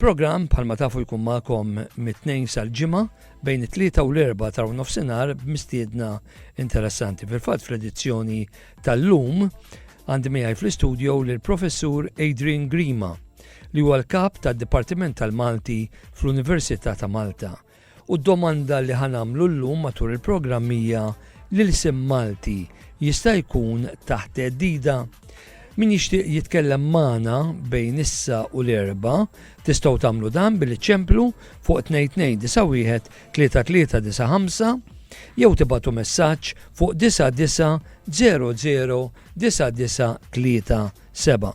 Programm bħalma tafu jkun magħkom mit-tnejn sal-ġimgħa bejn it-tlieta u l-erba ta' nofsinhar b'mistiedna interessanti. Fil-fatt fl-edizzjoni tal-lum għandi miegħi fl-istudio lil professur Adrian Grima li huwa l-kap tad-Dipartiment tal-Malti fl-Università ta' Malta U d-domanda li ħa nagħmlu llum matul il-programm hija, l-ilsien Malti jista' jkun taħt theddida? Min jixtieq jitkellem magħna bejn issa u l-Erbgħa, tistgħu tagħmlu dan billi ċemplu fuq 2291 3395 jew tibatu messaġġ fuq 9900 993 Seba.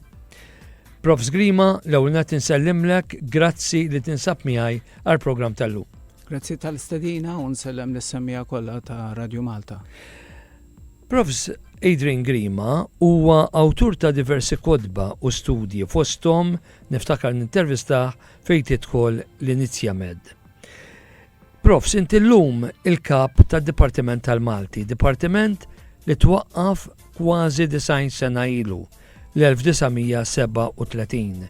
Prof Zgrima, l-ewwel nett insellimlek, grazzi li tinsab miegħi għall-programm tal-lum. Grazzi tal-istedina u nsellem l-semmija kollha ta' Radio Malta. Profs Adrian Grima huwa awtur ta' diversi kodba u studji fosthom niftakar nintervistaħ fejn tidħol l-Inizja Med. Profs, inti llum il-kap tad-Dipartiment tal-Malti, dipartiment li twaqqaf kważi design sena ilu l-1937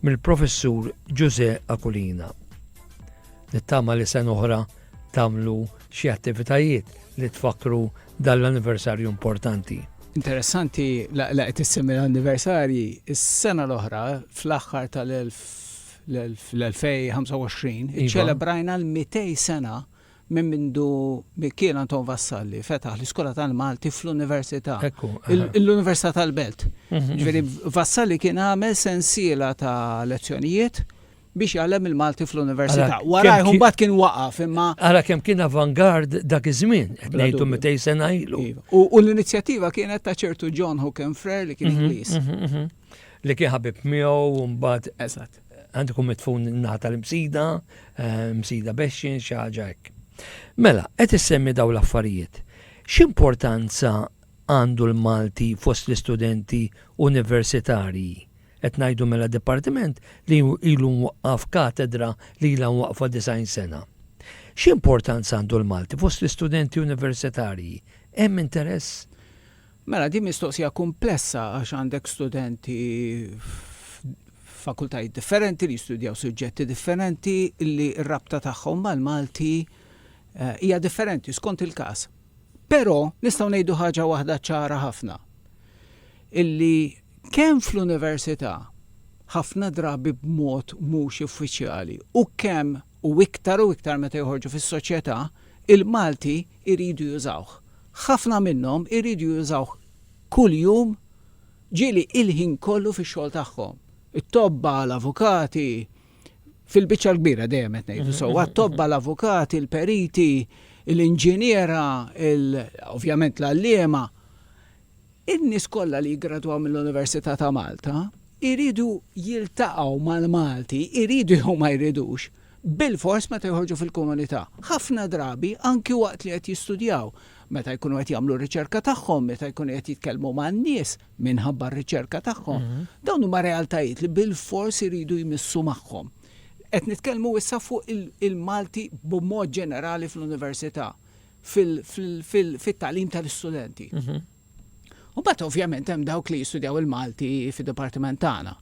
mill-professur Ġużè Akulina. Nittama li sen oħra tamlu xi attivitajiet li tfakru dall-anniversarju importanti. Interessanti laqgħet issemmi l-anniversarji, is-sena l-oħra fl-aħħar tal-1000 fl-2025 iċċelebrajna l-200 sena minn mindu Mikiel Anton Vassalli fetaħ l-Iskola tal-Malti fl-Università. L-Università tal-Belt. Mhm. Ġifieri Vassalli kien għamel sensiela ta' lezzjonijiet biex jgħallem il-Malti fl-Università. Wara jħum bat kien waqaf imma. Għara kemm kien avangard dak iż-żmien, ngħidu mitej sena ilu. Iva. U l-inizjattiva kienet ta' ċertu John Hookenfrer li kien mhm, Ingliż. Mhm, li kien ħabib miegħu u mbagħad eżatt għandu kum mitfun naħa tal-msida, eh, msida bexxin xi ħaġa hekk. Mela, qed issemmi daw l-affarijiet. X'importanza għandu l-Malti fost l-istudenti universitarji? Qed ngħidu mela dipartiment li ilu waqqaf katedra li ilha waqfa design sena. X'importanza għandu l-Malti fost l-istudenti universitarji? Hemm interess? Mela din mistoqsija kumplessa għax għandek studenti f'fakultajiet differenti li jistudjaw suġġetti differenti li r-rabta tagħhom mal-Malti hija differenti skont il-każ. Però nistgħu ngħidu ħaġa waħda ċara ħafna, illi kemm fl-università, ħafna drabi b'mod mhux uffiċjali, u kemm u iktar u iktar meta joħorġu fis-soċjetà, il-Malti jridu jużawh. Ħafna minnhom iridu jużawh kuljum, ġieli il-ħin kollu fix-xogħol tagħhom. It-tobba, l-avukati, fil-biċċa l-kbira, dejjem qed ngħidu sewwa, t-tobba, l-avukati, il-periti, l-inġiniera, ovvjament l-għalliema, in-nies kollha li jiggradwaw mill-Università ta' Malta, iridu jiltaqgħu mal-Malti, iridu jew ma jridux. bilfors meta joħorġu fil-komunità. Ħafna drabi, anki waqt li qed jistudjaw, meta jkunu qed jagħmlu r-riċerka tagħhom, meta jkunu qed jitkellmu man-nies minħabba r-riċerka tagħhom, dawn huma realtajiet li bilfors iridu jmissu magħhom. Qed nitkellmu issa fuq il-Malti b'mod ġenerali fl-università, fit-tagħlim tal-istudenti. U mbagħad ovvjament hemm dawk li jistudjaw il-Malti fid-dipartiment tagħna.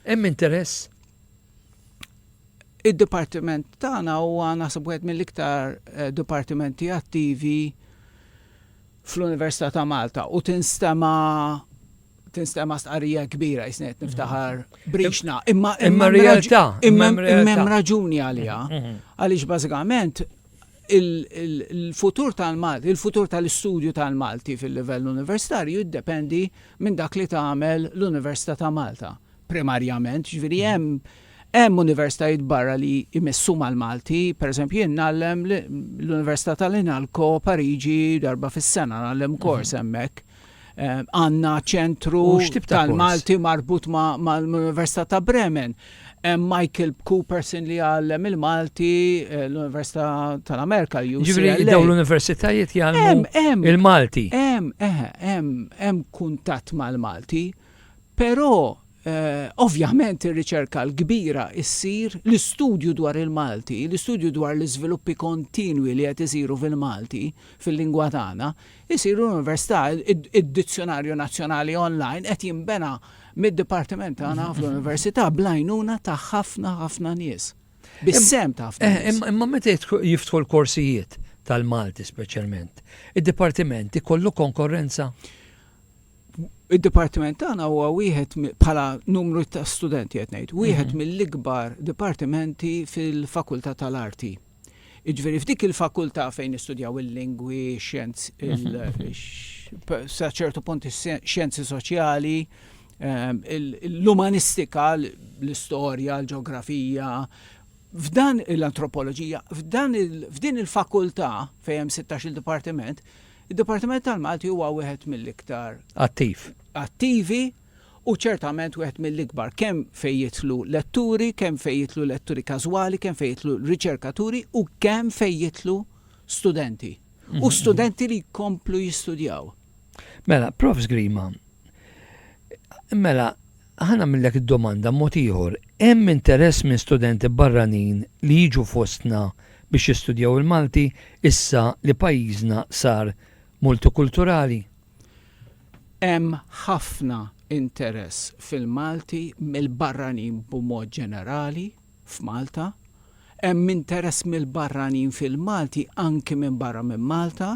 Hemm interess? Id-dipartiment tagħna huwa naħseb wieħed mill-iktar dipartimenti attivi fl-Università ta' Malta u tinstema' tinstema' stqarrija kbira jisni qed niftaħar brixna. Imma imma realtà, imma hemm raġuni għaliha. Għaliex bażikament il-futur tal-Malti, il-futur tal-istudju tal-Malti fil-livell universitarju jiddependi minn dak li tagħmel l-Università ta' Malta. primarjament, jiġifieri hemm hemm universitajiet barra li jmissu mal-Malti, pereżempju jien ngħallem l-Università tal-Inalco Pariġi darba fis-sena ngħallem mhm. kors hemmhekk. Eh, għanna ċentru tal-Malti marbut mal-Università ta' Bremen. Michael Cooperson li għallem il-Malti eh, l-Università tal-Amerika. Ġivri daw l-Universitajiet jgħallmu il-Malti. Hemm, eh, hemm, hemm kuntatt mal-Malti. Però, ovvjament ir-riċerka l-kbira ssir, l-istudju dwar il-Malti, l-istudju dwar l-iżviluppi kontinwi li qed isiru fil-Malti, fil-lingwa tagħna, isir l-Università. Id-Dizzjunarju Nazzjonali online qed jinbena mid-dipartiment tagħna fl-Università bl-għajnuna ta' ħafna, ħafna nies. Bis-sehem ta' ħafna nies. Imma meta jiftħu l-korsijiet tal-Malti speċjalment, id-dipartiment ikollu konkorrenza? Id-dipartiment tagħna huwa wieħed bħala numru ta' studenti qed ngħid, wieħed mhm. mill-ikbar dipartimenti fil-Fakultà tal-Arti. Iġveri, f'dik il-fakultà fejn istudjaw il-lingwi, xjenz, sa ċertu punt xjenzi soċjali, ehm, l-umanistika, l-istorja, l-ġeografija, f'dan l-antropoloġija, f'din il-fakultà fejn hemm 16 il-dipartiment, Id-Dipartiment tal-Malti huwa wieħed mill-iktar. Attiv. Attivi u ċertament wieħed mill-ikbar, kemm fejn jidħlu letturi, kemm fejn jidħlu letturi każwali, kemm fejn jidħlu riċerkaturi u kemm fejn jidħlu studenti. U studenti li jkomplu jistudjaw. Mela, Prof. Grima, mela, Ħa nagħmillek id-domanda b'mod ieħor, hemm interess minn studenti barranin li jiġu fostna biex jistudjaw il-Malti issa li pajjiżna sar multikulturali? Hemm ħafna interess fil-Malti mill-barranin b'mod ġenerali. f'Malta, hemm interess mill-barranin fil-Malti anki minn barra minn Malta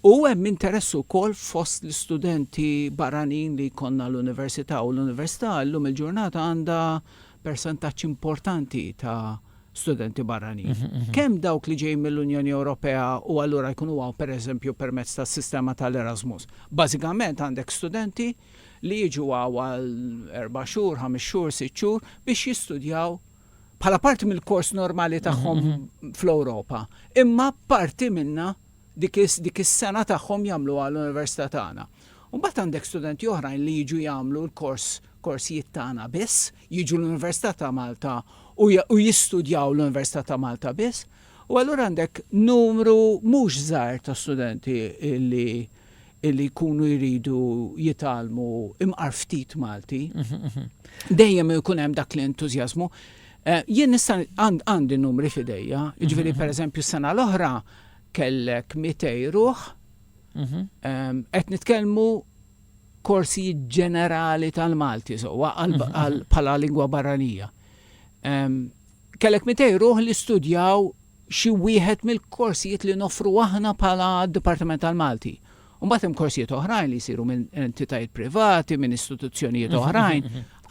u hemm interess ukoll fost l-istudenti barranin li jkollna l-Università u l-Università llum il-ġurnata għandha persentaġġ importanti ta' studenti barranin. Kemm dawk li ġejjin mill-Unjoni Ewropea u allura jkunu hawn pereżempju permezz tas-sistema tal-Erasmus. Bażikament għandek studenti li jiġu hawn għal erba' xhur, ħames xhur, sitt xhur biex jistudjaw bħala parti mill-kors normali tagħhom fl-Ewropa. Imma parti minnha dik is-sena tagħhom jagħmluha l-università tagħna. U mbagħad għandek studenti oħrajn li jiġu jagħmlu l-kors korsijiet tagħna biss, jiġu l-Università ta' Malta u jistudjaw l-Università ta' Malta biss. U allura għandek numru mhux żgħir ta' studenti li illi jkunu jridu jitgħallmu imqar ftit Malti. Dejjem ikun hemm dak l-entużjażmu. Eh, jien nista' għandi numri fidejja, jiġifieri pereżempju s-sena l-oħra kellek 200 ruħ, ehm, qed nitkellmu korsi ġenerali tal-Malti, so, bħala lingwa barranija. Ehm, Kellek mitej ruħ li studjaw xi wieħed mill-korsijiet li noffru aħna bħala Dipartiment tal-Malti. U mbagħad hemm korsijiet oħrajn li jsiru minn entitajiet privati, minn istituzzjonijiet oħrajn.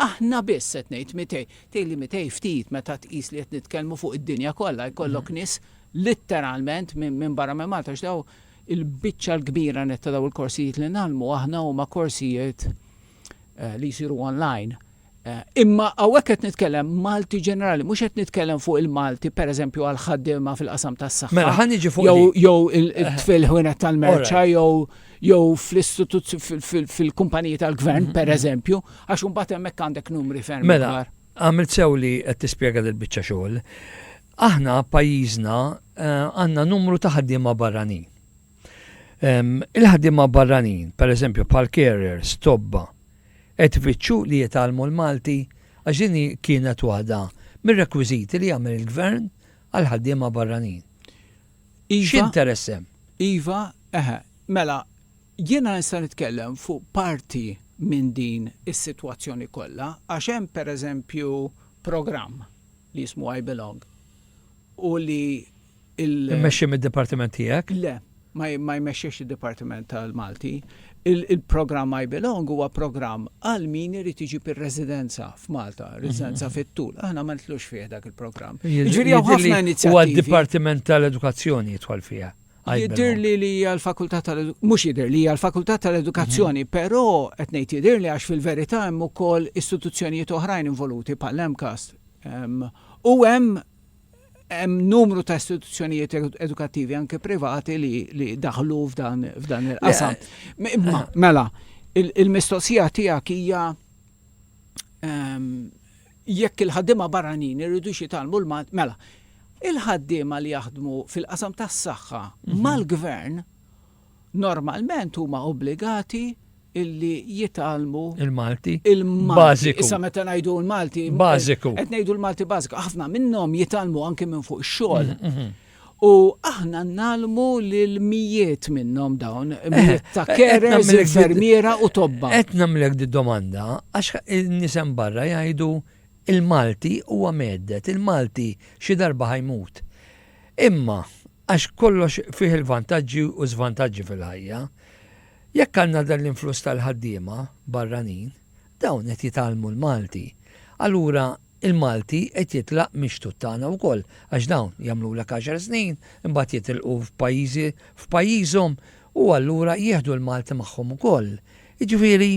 Aħna biss qed ngħid mitej. Tgħid li mitej ftit meta tqis li qed nitkellmu fuq id-dinja kollha jkollok nies litteralment minn barra minn Malta għax dawn il-biċċa l-kbira nett ta' dawn il-korsijiet li ngħallmu aħna huma korsijiet eh, li jsiru online. Eh, imma hawnhekk qed nitkellem Malti ġenerali, mhux qed nitkellem fuq il-Malti pereżempju għal ħaddiema fil-qasam tas-saħħa. Mela ħan niġi fuq jew jew il-tfil eh. ħwienet tal-merċa jew jew fl-istituzzjoni fil-kumpaniji tal-gvern mm-hmm. pereżempju, għax imbagħad hemmhekk għandek numri ferm. Mela, għamilt sew li qed tispjega dil-biċċa xogħol. Aħna pajjiżna għandna numru ta' ħaddiema barranin Il-ħaddiema barranin, pereżempju bħal carers, tobba, qed ifittxu li jitgħallmu l-Malti għax din kienet waħda mir-rekwiżiti li jagħmel il-gvern għal ħaddiema barranin. Iva. X'interess hemm? Iva, eħe, mela, jiena nista' nitkellem fuq parti minn din is-sitwazzjoni kollha għax hemm pereżempju programm li jismu I Belong u li Immexxi mid-dipartiment tiegħek? Le, ma jmexxiex id-dipartiment tal-Malti. Il-programm I Belong huwa programm għal min irid iġib ir-residenza f'Malta, residenza mhm. fit-tul. Aħna ma nitlux fih dak il-programm. Jiġri ħafna inizjattivi. Huwa d-dipartiment tal-edukazzjoni jitħol fiha. Jidir li li għal-fakultà tal-edukazzjoni, mux jidir li għal-fakultà tal-edukazzjoni, mhm. pero etnejt jidir li għax fil-verita hemm ukoll istituzzjonijiet oħrajn involuti pal-MCAST. U hemm hemm numru ta' istituzzjonijiet edukattivi anke privati li, li daħlu f'dan, f'dan il-qasam. Imma, mela, il-mistoqsija il tiegħek hija um, jekk il-ħaddima barranin irridu xitalmu l-Malti, mela, il-ħaddima li jaħdmu fil-qasam tas-saħħa mhm. mal-gvern normalment huma obbligati illi jitgħallmu il-Malti il-Malti. Issa meta ngħidu l-Malti bażiku. Qed ngħidu l-Malti bażiku. Ħafna minnhom jitgħallmu anke minn fuq ix-xogħol. Mhm, mhm. U aħna nalmu lil mijiet minnhom dawn, eh, mijiet ta' eh, kerers, infermiera u tobba. Qed nagħmlek di domanda għax nisem barra jgħidu il-Malti huwa meddet, il-Malti xi darba ħajmut. Imma Għax kollox fih il-vantaġġi u żvantaġġi fil-ħajja. Jekk għandna dan l-influss tal-ħaddiema barranin, dawn qed jitgħallmu l-Malti. Allura l-Malti qed jitlaq mix-xtut tagħna wkoll għax dawn jagħmlulek għaxar snin, imbagħad jitilqu f'pajjiżi f'pajjiżhom u allura jieħdu l-Malti magħhom ukoll. Jiġifieri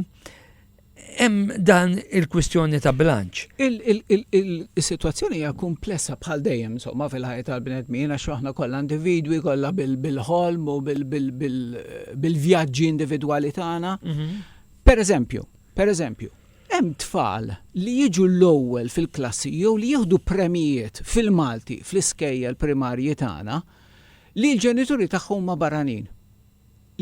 Hemm dan il-kwistjoni ta' bilanċ. Is-sitwazzjoni hija kumplessa bħal dejjem insomma fil-ħajja tal-bnedmin għax aħna kollha individwi, kollha bil-ħolm u bil-vjaġġi individwali tagħna. Pereżempju, pereżempju, hemm tfal li jiġu l-ewwel fil-klassi jew li jieħdu premijiet fil-Malti fl-iskejjel primarji tagħna li l-ġenituri tagħhom huma barranin.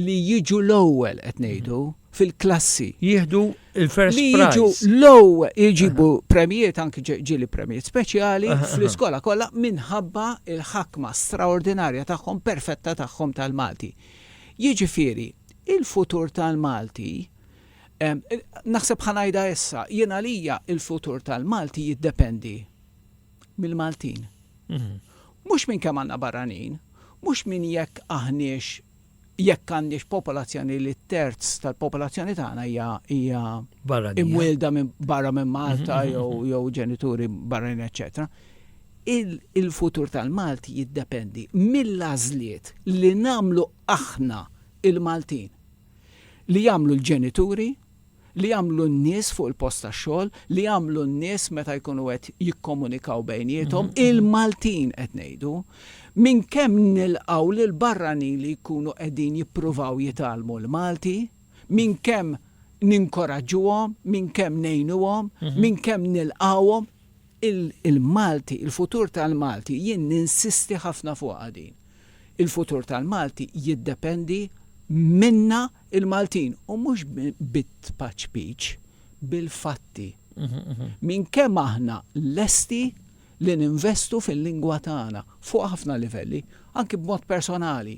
li jiġu l-ewwel qed ngħidu fil-klassi. Jieħdu l-first prize. Li jiġu l-ewwel iġibu premjiet anki ġieli premjiet speċjali fl-iskola kollha minħabba l-ħakma straordinarja tagħhom perfetta tagħhom tal-Malti. Jiġifieri, il-futur tal-Malti naħseb ħa ngħidha issa, jien għalija l-futur tal-Malti jiddependi. mill-Maltin. Mhux minn kemm għandna barranin, mhux minn jekk aħniex jekk għandniex popolazzjoni li terz tal-popolazzjoni tagħna hija hija imwielda minn barra minn Malta jew ġenituri barranin eċċetera. Il-futur tal-Malti jiddependi mill-għażliet li nagħmlu aħna il-Maltin li jagħmlu l-ġenituri li jagħmlu n-nies fuq il-post tax-xogħol, li jagħmlu n-nies meta jkunu qed jikkomunikaw bejniethom, il-Maltin qed ngħidu, minn kemm nilqgħu lill-barranin li jkunu qegħdin jippruvaw jitgħallmu l-Malti, minn kemm ninkoraġġuhom, minn kemm ngħinuhom, minn kemm nilqgħuhom, il-Malti, il-futur tal-Malti, jien ninsisti ħafna fuqha din, il-futur tal-Malti jiddependi minna. Il-Maltin, u mhux bit-tpaċpiċ, bil-fatti. Minn kemm aħna lesti li ninvestu fil-lingwa tagħna, fuq ħafna livelli, anki b'mod personali,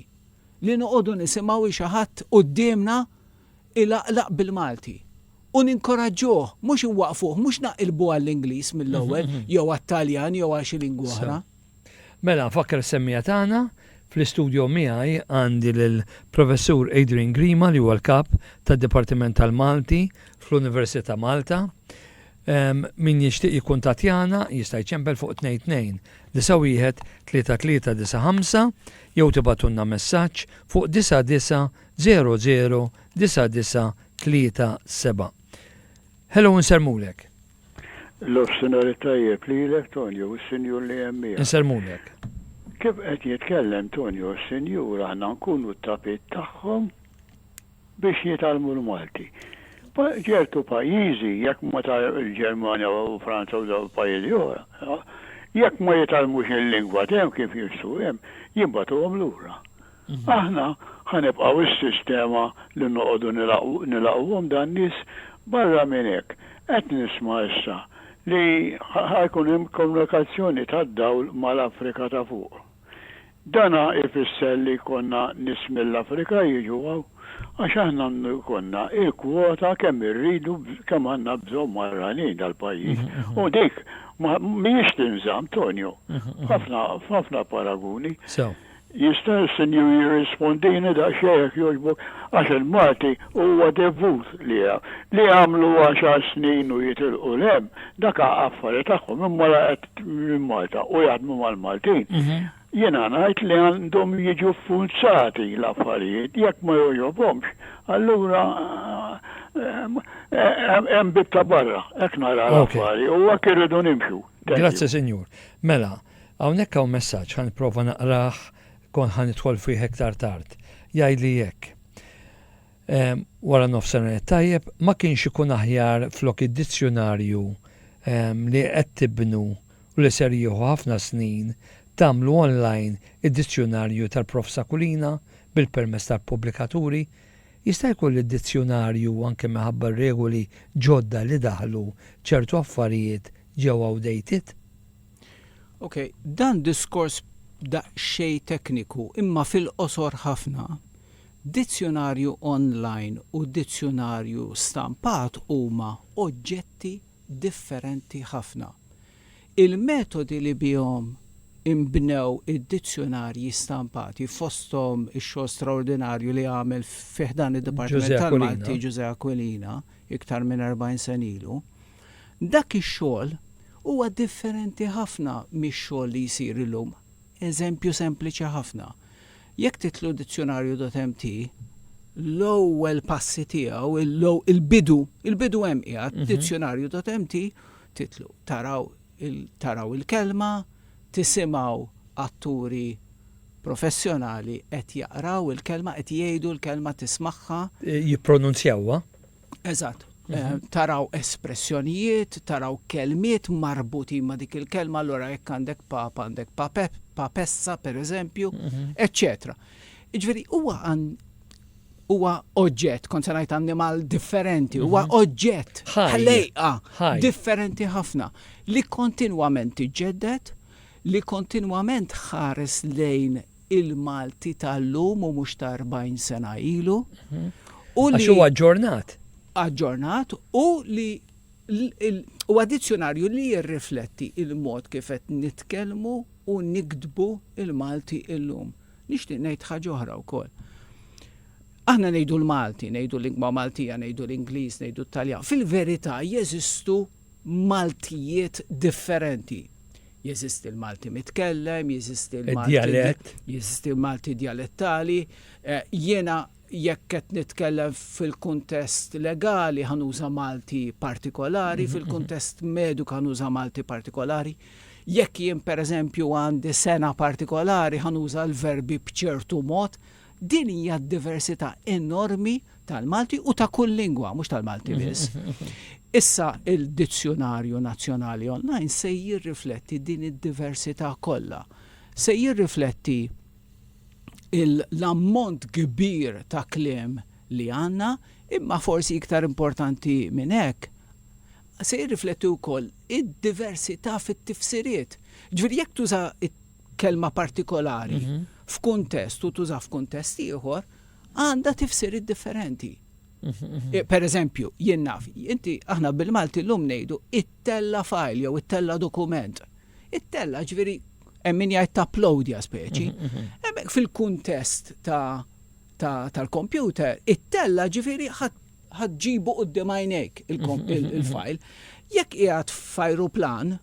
li noqogħdu nisimgħu hi xi ħadd quddiemna ilaqlaq bil-Malti, u ninkoraġġuh, mhux inwaqqfuh, mhux naqilbu għall-Ingliż mill-ewwel, jew għat-Taljan, jew għal xi lingwa oħra. Mela, nfakkar is-semmiegħa tagħna, fl-istudjo miegħi għandi lill-Professur Adrian Grima li huwa l-Kap tad-Dipartiment tal-Malti fl-Università Malta. Min jixtieq jikkuntattjana jista' jċempel fuq 22 91 3395 jew tibatunna messaġġ fuq 9900 9937. Hello nsermulek. Nofsinhar it-tajjeb lilek Tonio u s-Sinjur li hemm miegħek. Insellmulek. Kif qed jitkellem Tonio u s-Sinjur aħna nkunu t-tapit tagħhom biex jitgħallmu l-Malti. Ċertu pajjiżi jekk ma il-Ġermanja u Franza u dawn il-pajjiżi oħra jekk ma jitgħallmux il-lingwa t'hemm kif jistgħu hemm jibgħatuhom lura. Aħna ħa nibqgħu s-sistema li noqogħdu nilagħquhom dan nies, barra minn hekk qed nisma' issa li ħa jkun hemm komunikazzjoni tad-dawl mal-Afrika ta' fuq. Dan ħa jfisser li jkollna nies mill-Afrika jiġu hawn? Għax aħna għandu jkollna l-kwota kemm irridu kemm għandna bżonn barranin dal-pajjiż. U dik mhijiex tinżamm, Tonio, f'ħafna f'ħafna paraguni. Jista' s-Sinjur jirrispondini daqsxejn jekk jogħġbok? Għax il-Malti huwa devut liha. Li jagħmlu għaxar snin u jitilqu 'l hemm, dak affari tagħhom imma la qed minn Malta u jaħdmu mal-Maltin. Jiena ngħid li għandhom jiġu ffurzati l-affarijiet. Jekk ma jogħġobhomx, allura hemm bieb ta' barra. Hekk nara l-affari u hekk irridu nimxu. Thank you. Grazzi Sinjur. Mela, Hawnhekk hawn messaġġ, ħa nipprova naqrah, kont ħa nidħol fih iktar tard. Jgħidli hekk, ehm, Wara nofsinhar it-tajjeb, ma kienx ikun aħjar flok id-dizzjunarju, ehm, li qed tibnu u li ser jieħu ħafna snin, tagħmlu online id-dizzjunarju tal-Prof Sakulina bil-permess tal-pubblikaturi? Jista' jkun li d-dizzjunarju, anke minħabba r-regoli ġodda li daħlu, ċertu affarijiet ġew outdated? Ok, dan diskors daqsxejn tekniku imma fil-qosor ħafna, dizzjunarju online u dizzjunarju stampat huma oġġetti differenti ħafna. Il-metodi li bihom inbnew id-dizzjunarji stampati, fosthom ix-xogħol straordinarju li għamel fi ħdan id-Dipartiment tal-Malti Ġużè Aquilina iktar minn erbgħin sena ilu, Dak ix-xogħol huwa differenti ħafna mix-xogħol li jsir illum. Eżempju sempliċi ħafna, jekk titlu dizzjunarju dotmt, l-ewwel passi tiegħu, il-bidu, il-bidu hemm qiegħed, dizzjunarju dotmt, titlu, taraw, taraw il-kelma, tisimgħu atturi professjonali qed jaqraw il-kelma, qed jgħidu l-kelma, tismagħha. Jippronunzjawha, Eżatt. Eh, taraw espressjonijiet, taraw kelmiet marbuti ma' dik il-kelma, allora jekk għandek pap, għandek papep, papessa per eżempju, eccetera. Mhm. Iġveri, huwa għan huwa oġġett, kont se ngħid annimal differenti, huwa mhm. oġġett ħlejqa differenti ħafna li kontinwament iġġedded, li kontinwament ħares lejn il-Malti tal-lum u mhux ta' 40 sena ilu. U li. Għax huwa aġġornat. Aġġornat u li huwa dizzjonarju li jirrifletti il-mod kif qed nitkellmu u niktbu il-Malti illum. Nixtieq ngħid ħaġa oħra wkoll. Aħna ngħidu l-Malti, ngħidu lingwa Maltija, ngħidu l-Ingliż, ngħidu t-Taljan. Fil-verità jeżistu Maltijiet differenti. Jeżisti l-Malti mitkellem, jeżisti l-Malti, jeżisti l-Malti djalettali. Eh, jiena jekk qed nitkellem fil-kuntest legali ħanuża Malti partikolari, mhm, fil-kuntest mhm. mediku ħanuża Malti partikolari. Jekk jien pereżempju għandi sena partikolari ħanuża l-verbi b'ċertu mod, Din hija d-diversità enormi tal-Malti u ta' kull lingwa, mhux tal-Malti biss. Issa il-Dizzjunarju Nazzjonali Online se jirrifletti din id-diversità kollha. Se jirrifletti l-ammont kbir ta' kliem li għandna, imma forsi iktar importanti minn hekk, se jirrifletti wkoll id-diversità fit-tifsiriet. Ġifieri jekk tuża kelma partikolari f'kuntest u tuża f'kuntest ieħor għandha tifsir differenti. Eh, per eżempju, jien naf, inti aħna bil-Malti l-lum nejdu it-tella fajl jew it-tella dokument. It-tella ġviri emmin jgħid ta' uploadja speċi. Mhm, mhm. Emmek fil-kuntest tal-kompjuter, it-tella ġviri ħadġibu u d-demajnek il-fajl. Mhm, Jekk jgħat fajru plan,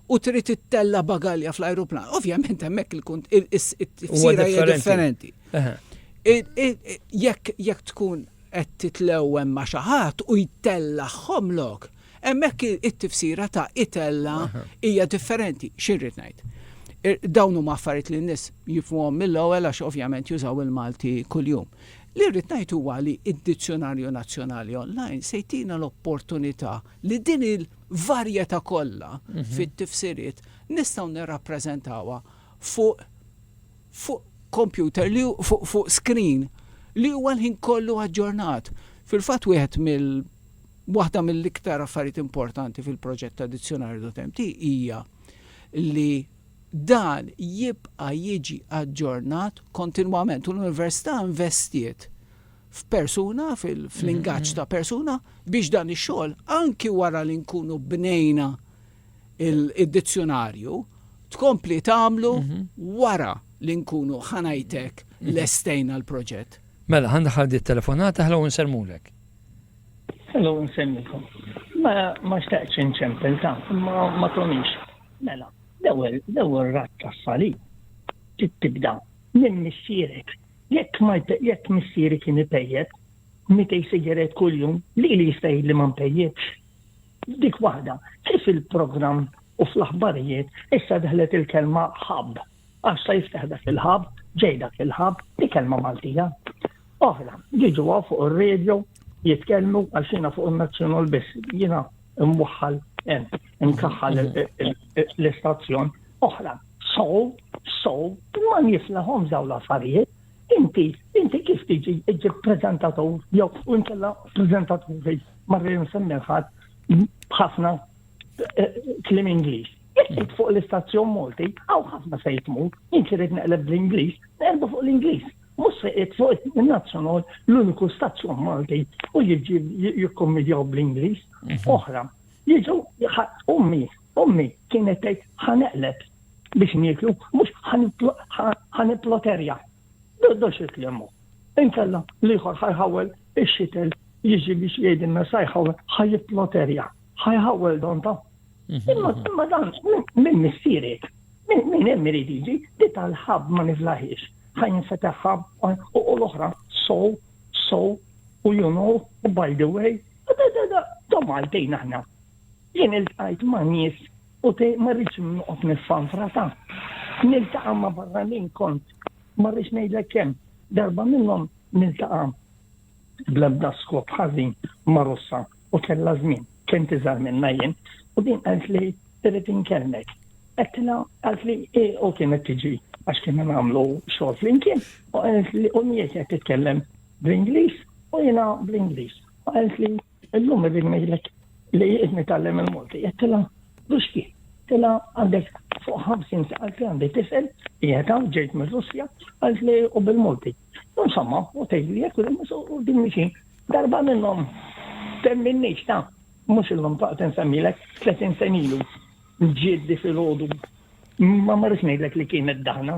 u trid ittella' bagalja fl-ajruplan. Ovvjament hemmhekk il-tifsira hija differenti. Jekk tkun qed titlew hemm ma' xi ħadd u jtellagħhom lok, hemmhekk it-tifsira ta' itella' hija differenti. X'irrid ngħid? Dawn huma affarijiet li n-nies jifhmuhom mill-ewwel għax ovvjament jużaw il-Malti kuljum. Li rrid ngħid huwa li d-Dizzjunarju Nazzjonali online se jtina l-opportunità li din il-varjetà kollha fit-tifsiriet nistgħu nirrappreżentawha fuq fuq kompjuter li fuq fuq screen li huwa l-ħin kollu aġġornat. Fil-fatt wieħed mill waħda mill-iktar affarijiet importanti fil-proġett ta' Dizzjonarju Dotemti hija li dan jibqa' jiġi aġġornat kontinwament u l-Università investiet f'persuna, fl-ingaġġ ta' persuna, biex dan ix-xogħol, anki wara li nkunu bnejna id-dizzjunarju, tkompli tagħmlu wara li nkunu ħa ngħidlek lestejna l-proġett. Mela, ħa ndaħħal din it-telefonata, ħlou nsellmulek. Ħlou nsellmikom. Ma xtaqtx inċempel ta', ma tonix. Mela, l-ewwel ratt tas-salib tibda minn missierek Jekk ma jekk missieri kien ipejjep mitej sigaret kuljum, lili jista' jgħidli ma npejjipx? Dik waħda, kif il-programm u fl-aħbarijiet issa daħlet il-kelma hub, għax sa jiftaħ dak il-hub, ġej dak il-hub, hi kelma Maltija. Oħra, jiġu hawn fuq ir-radio jitkellmu għax jiena fuq in-Nazzjonal biss, jiena mwaħħal hemm, imkaħħal l-istazzjon oħra. So, so, ma niflahom daw l-affarijiet. Inti, inti kif tiġi iġib prezentatur, jew u nkella prezentaturi, marri nsemmer ħadd b'ħafna eh, klim Ingliż. Jekk fuq l-istazzjon Malti, għaw ħafna se jitmu, inti rrid neqleb bl-Ingliż, nerbu fuq l-Ingliż. Mhux se fuq il-nazzjonal l-uniku stazzjon Malti u jiġi jikkommedjaw bl-Ingliż. Mhm. Oħra, jiġu ummi Ommi kienet tgħid ħa neqleb biex nieklu mhux ħa nipploterja. Doddo xi kliem hu. Inkella l-ieħor ħa jħawwel ix-xitel jiġi biex jgħidilna sa jħawwel ħa jipploterja, ħa jħawwel donta. Imma imma dan minn missierek, minn hemm irid jiġi li tal-ħabb ma niflaħiex. Ħa jinfetaħ ħabb u l-oħra so, so, u you know, u by the way, da da da da Maltin aħna. Jien iltqajt ma' nies u te ma rridx noqgħod niffanfra ta'. Niltaqa' ma' barranin kont ma rridx ngħidlek kemm darba minnhom niltaqa' bl-ebda skop ħażin ma' Russa u kellha żmien, kent iżgħar minnha jien, u din qaltli irrid inkellmek. Għedtilha qaltli hi u kienet tiġi għax kienna nagħmlu xogħol flimkien u qaltli u mhi qed titkellem bl-Ingliż u jiena bl-Ingliż. U qaltli Illum irrid ngħidlek li qed nitgħallem il-Malti. Qed tilha Ruski, tilha għandek fuq 50 sa qalt li għandi tifel qiegħed hawn ġejt mir-Russja qalt li u bil-Malti. Insomma, u tgħidli jekk u din xi darba minnhom temminniex ta' mhux illum taqt insemmilek 30 senilu ġieddi filgħodu ma marrux ngħidlek li kienet daħna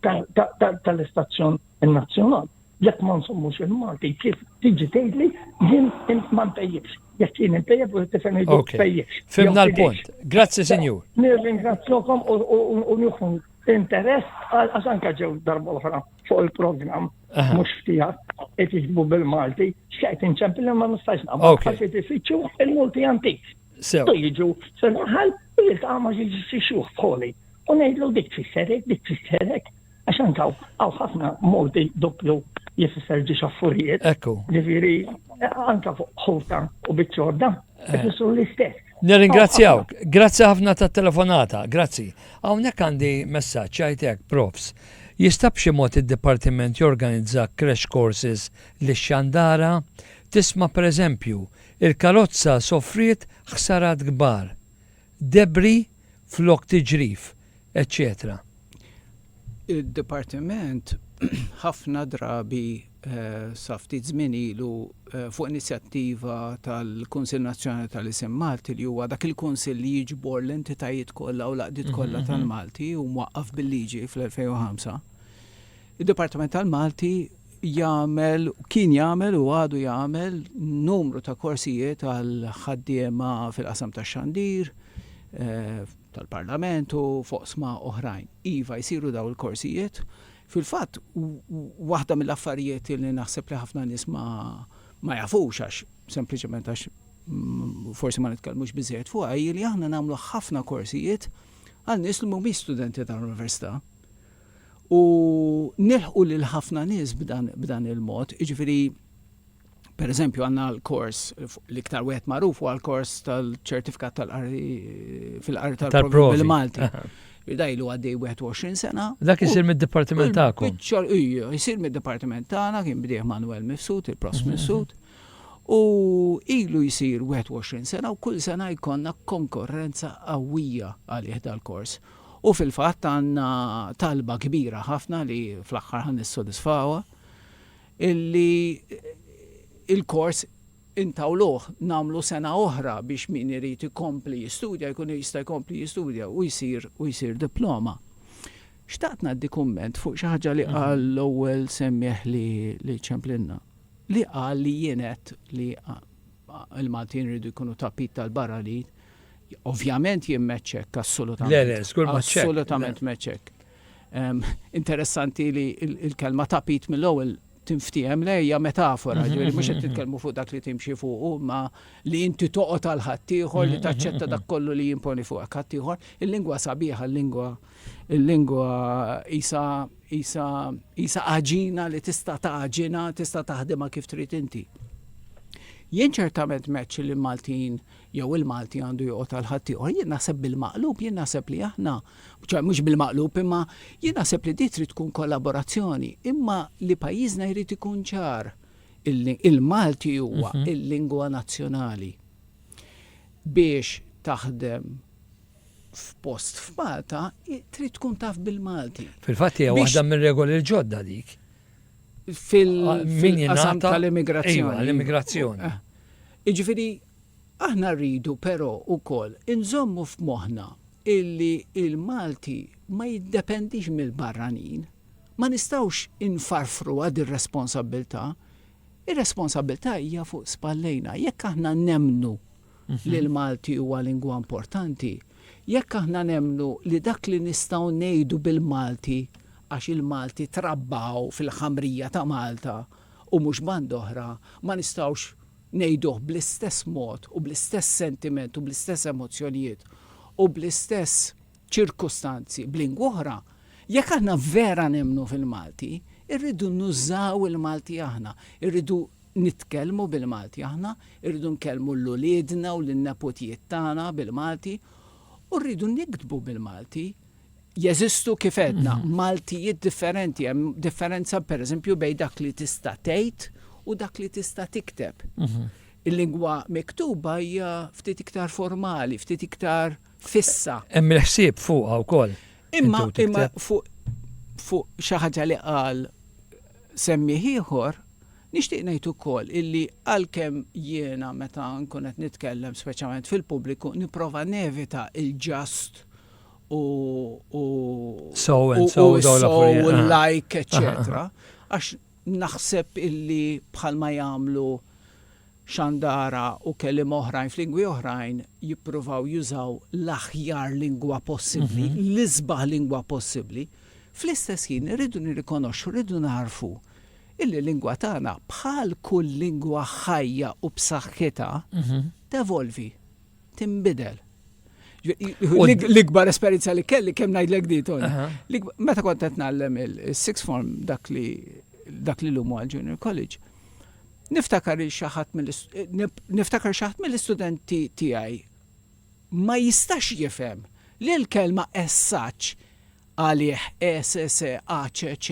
tal-istazzjon nazzjonali. Jekk ma nsommux il-Malti, kif tiġi tgħidli jien ma ntejjibx. Jekk jien intejjeb u t-tifel ngħidu tejjibx. Fimna l-punt. Grazzi, Sinjur. Nirringrazzjokom u nieħu interess għax anke ġew darba oħra fuq il-programm mhux ftijak qed jiġbu bil-Malti, x'qed inċempil ma nistax naqbel għax qed ifittxu il-multi antik. Sew. Jiġu se naħal u jiltaqa' ma' xi xuħ bħoli. u ngħidlu dik tfisser hekk, dik tfisser hekk, għax anka hawn ħafna modi doppju li fisser ġi xaffurijiet. Ekku. Ġifieri anka fuq ħuta u biċċorda, eh. ifissru l-istess. Nirringrazzjaw, grazzi ħafna tat telefonata, grazzi. Hawnhekk għandi messaġġ għajtek, profs. Jista' b'xi mod id-dipartiment jorganizza crash courses li xandara tisma' pereżempju il-karozza soffriet ħsarat kbar debri flok tiġrif, eċċetera. Id-Dipartiment ħafna drabi sa ftit żmien ilu fuq inizjattiva tal-Kunsill Nazzjonali tal-Isem Malti li huwa dak il-kunsill li jiġbor l-entitajiet kollha u l-għaqdiet kollha tal-Malti u mwaqqaf bil-liġi fl-2005 Id-Dipartiment tal-Malti jagħmel, kien jagħmel u għadu jagħmel numru ta' korsijiet għal ħaddiema fil-qasam tax-xandir, tal-Parlament u f'oqsma oħrajn. Iva, jsiru dawn il-korsijiet. Fil-fatt, waħda mill-affarijiet li naħseb li ħafna nies ma, ma jafux għax sempliċement għax forsi ma nitkellmux biżżejjed fuqha hi li aħna nagħmlu ħafna korsijiet għal nies li mhumiex studenti tal-università. u nilħqu lil ħafna nies b'dan il-mod. Jiġifieri, pereżempju, għandna l-kors, l-iktar wieħed magħruf huwa l-kors tal-ċertifikat tal-qari fil-qari tal-provi bil-Malti. Daj lu għaddej 21 sena. Dak isir mid-dipartiment tagħkom. Biċċar, ija, isir mid-dipartiment tagħna kien bdieħ Manuel Mifsud, il-pros mhm. Mifsud. U ilu jisir 21 sena u kull sena jkonna konkurrenza qawwija għalih dal-kors. U fil-fatt għandna talba kbira ħafna li fl-aħħar ħa nissodisfawha, illi l-kors intawluh nagħmlu sena oħra biex min irid ikompli jistudja jkun jista' jkompli jistudja u jsir u jsir diploma. Xtaqt ngħaddi kumment fuq xi ħaġa li qal l-ewwel semmiegħ li li ċemplinna, li qal li jien għedt li Il-Maltin iridu jkunu tapit tal-barra li ovvjament jien m'għedtx hekk assolutament. Le, le, żgur ma ċekk. Assolutament m'għedtx hekk. Ehm, interessanti li l-kelma tapit mill-ewwel tinftiehem le hija metafora, mhm, ġifieri mhux qed mhm, mhm. titkellmu fuq dak li timxi fuq ma li inti toqgħod għal ħaddieħor li taċċetta dak kollu li jimponi fuq ħaddieħor, il-lingwa sabiħa, l-lingwa Il-lingwa isa isa isa għaġina li tista' taġina, tista' taħdimha kif trid inti. Jien ċertament meċ li Maltin jew il-Malti għandu joqgħod għal ħaddieħor, jien naħseb bil-maqlub, jien naħseb li aħna, mhux bil-maqlub imma jien naħseb li dit trid tkun kollaborazzjoni, imma li pajjiżna jrid ikun ċar il-Malti huwa mhm. il-lingwa nazzjonali biex taħdem f'post f'Malta trid tkun taf bil-Malti. Fil-fatt hija waħda mir-regoli l-ġodda dik. Fil-qasam tal-immigrazzjoni. L-immigrazzjoni. Eh. Iġifieri aħna rridu però ukoll inżommu f'moħħna illi il-Malti ma jiddependix mill-barranin. Ma nistawx infarfru għad ir-responsabilità. Ir-responsabilità hija fuq spallejna. Jekk aħna nemnu li l-Malti huwa lingwa importanti, jekk aħna nemmnu li dak li nistgħu ngħidu bil-Malti għax il-Malti trabba hawn fil-ħamrija ta' Malta u mhux band'oħra, ma nistgħux ngħiduh bl-istess mod u bl-istess sentiment u bl-istess emozzjonijiet u bl-istess ċirkustanzi b'lingw'oħra, jekk aħna vera nemmnu fil-Malti, irridu nużaw il-Malti aħna, irridu nitkellmu bil-Malti aħna, irridu nkellmu 'l uliedna u lin-neputijiet tagħna bil-Malti u rridu niktbu bil-Malti. Jeżistu kif għedna, Maltijiet differenti, hemm differenza pereżempju bejn dak li tista' tgħid u dak li tista' tikteb. Il-lingwa miktuba hija ftit iktar formali, ftit iktar fissa. Hemm il-ħsieb fuqha wkoll. Imma fuq xi ħaġa li qal semmieh ieħor, Nixtieq ngħid ukoll illi għalkemm jiena meta nkun qed nitkellem speċjalment fil-pubbliku nipprova nevita l-just u u So and so, u dawn so l-affarijiet, u aha. l-like, eċċetera, għax naħseb illi bħalma jagħmlu Xandara u kelliema oħrajn f'lingwi oħrajn jippruvaw jużaw l-aħjar lingwa possibbli, l-isbaħ lingwa possibbli, fl-istess ħin irridu nirrikonoxxu, irridu nagħrfu Il-lingwa tagħna, bħal kull lingwa ħajja u b'saħħitha, tevolvi, tinbidel. L-ikbar esperjenza li kelli kemm ngħidlek di Tony. Meta kont qed nagħllem il-six form dak li dak li lumu għal junior college, niftakar xaħat niftakar xaħat mill-istudenti tiegħi ma jistax jifhem li l-kelma essaċ għalih ESSACC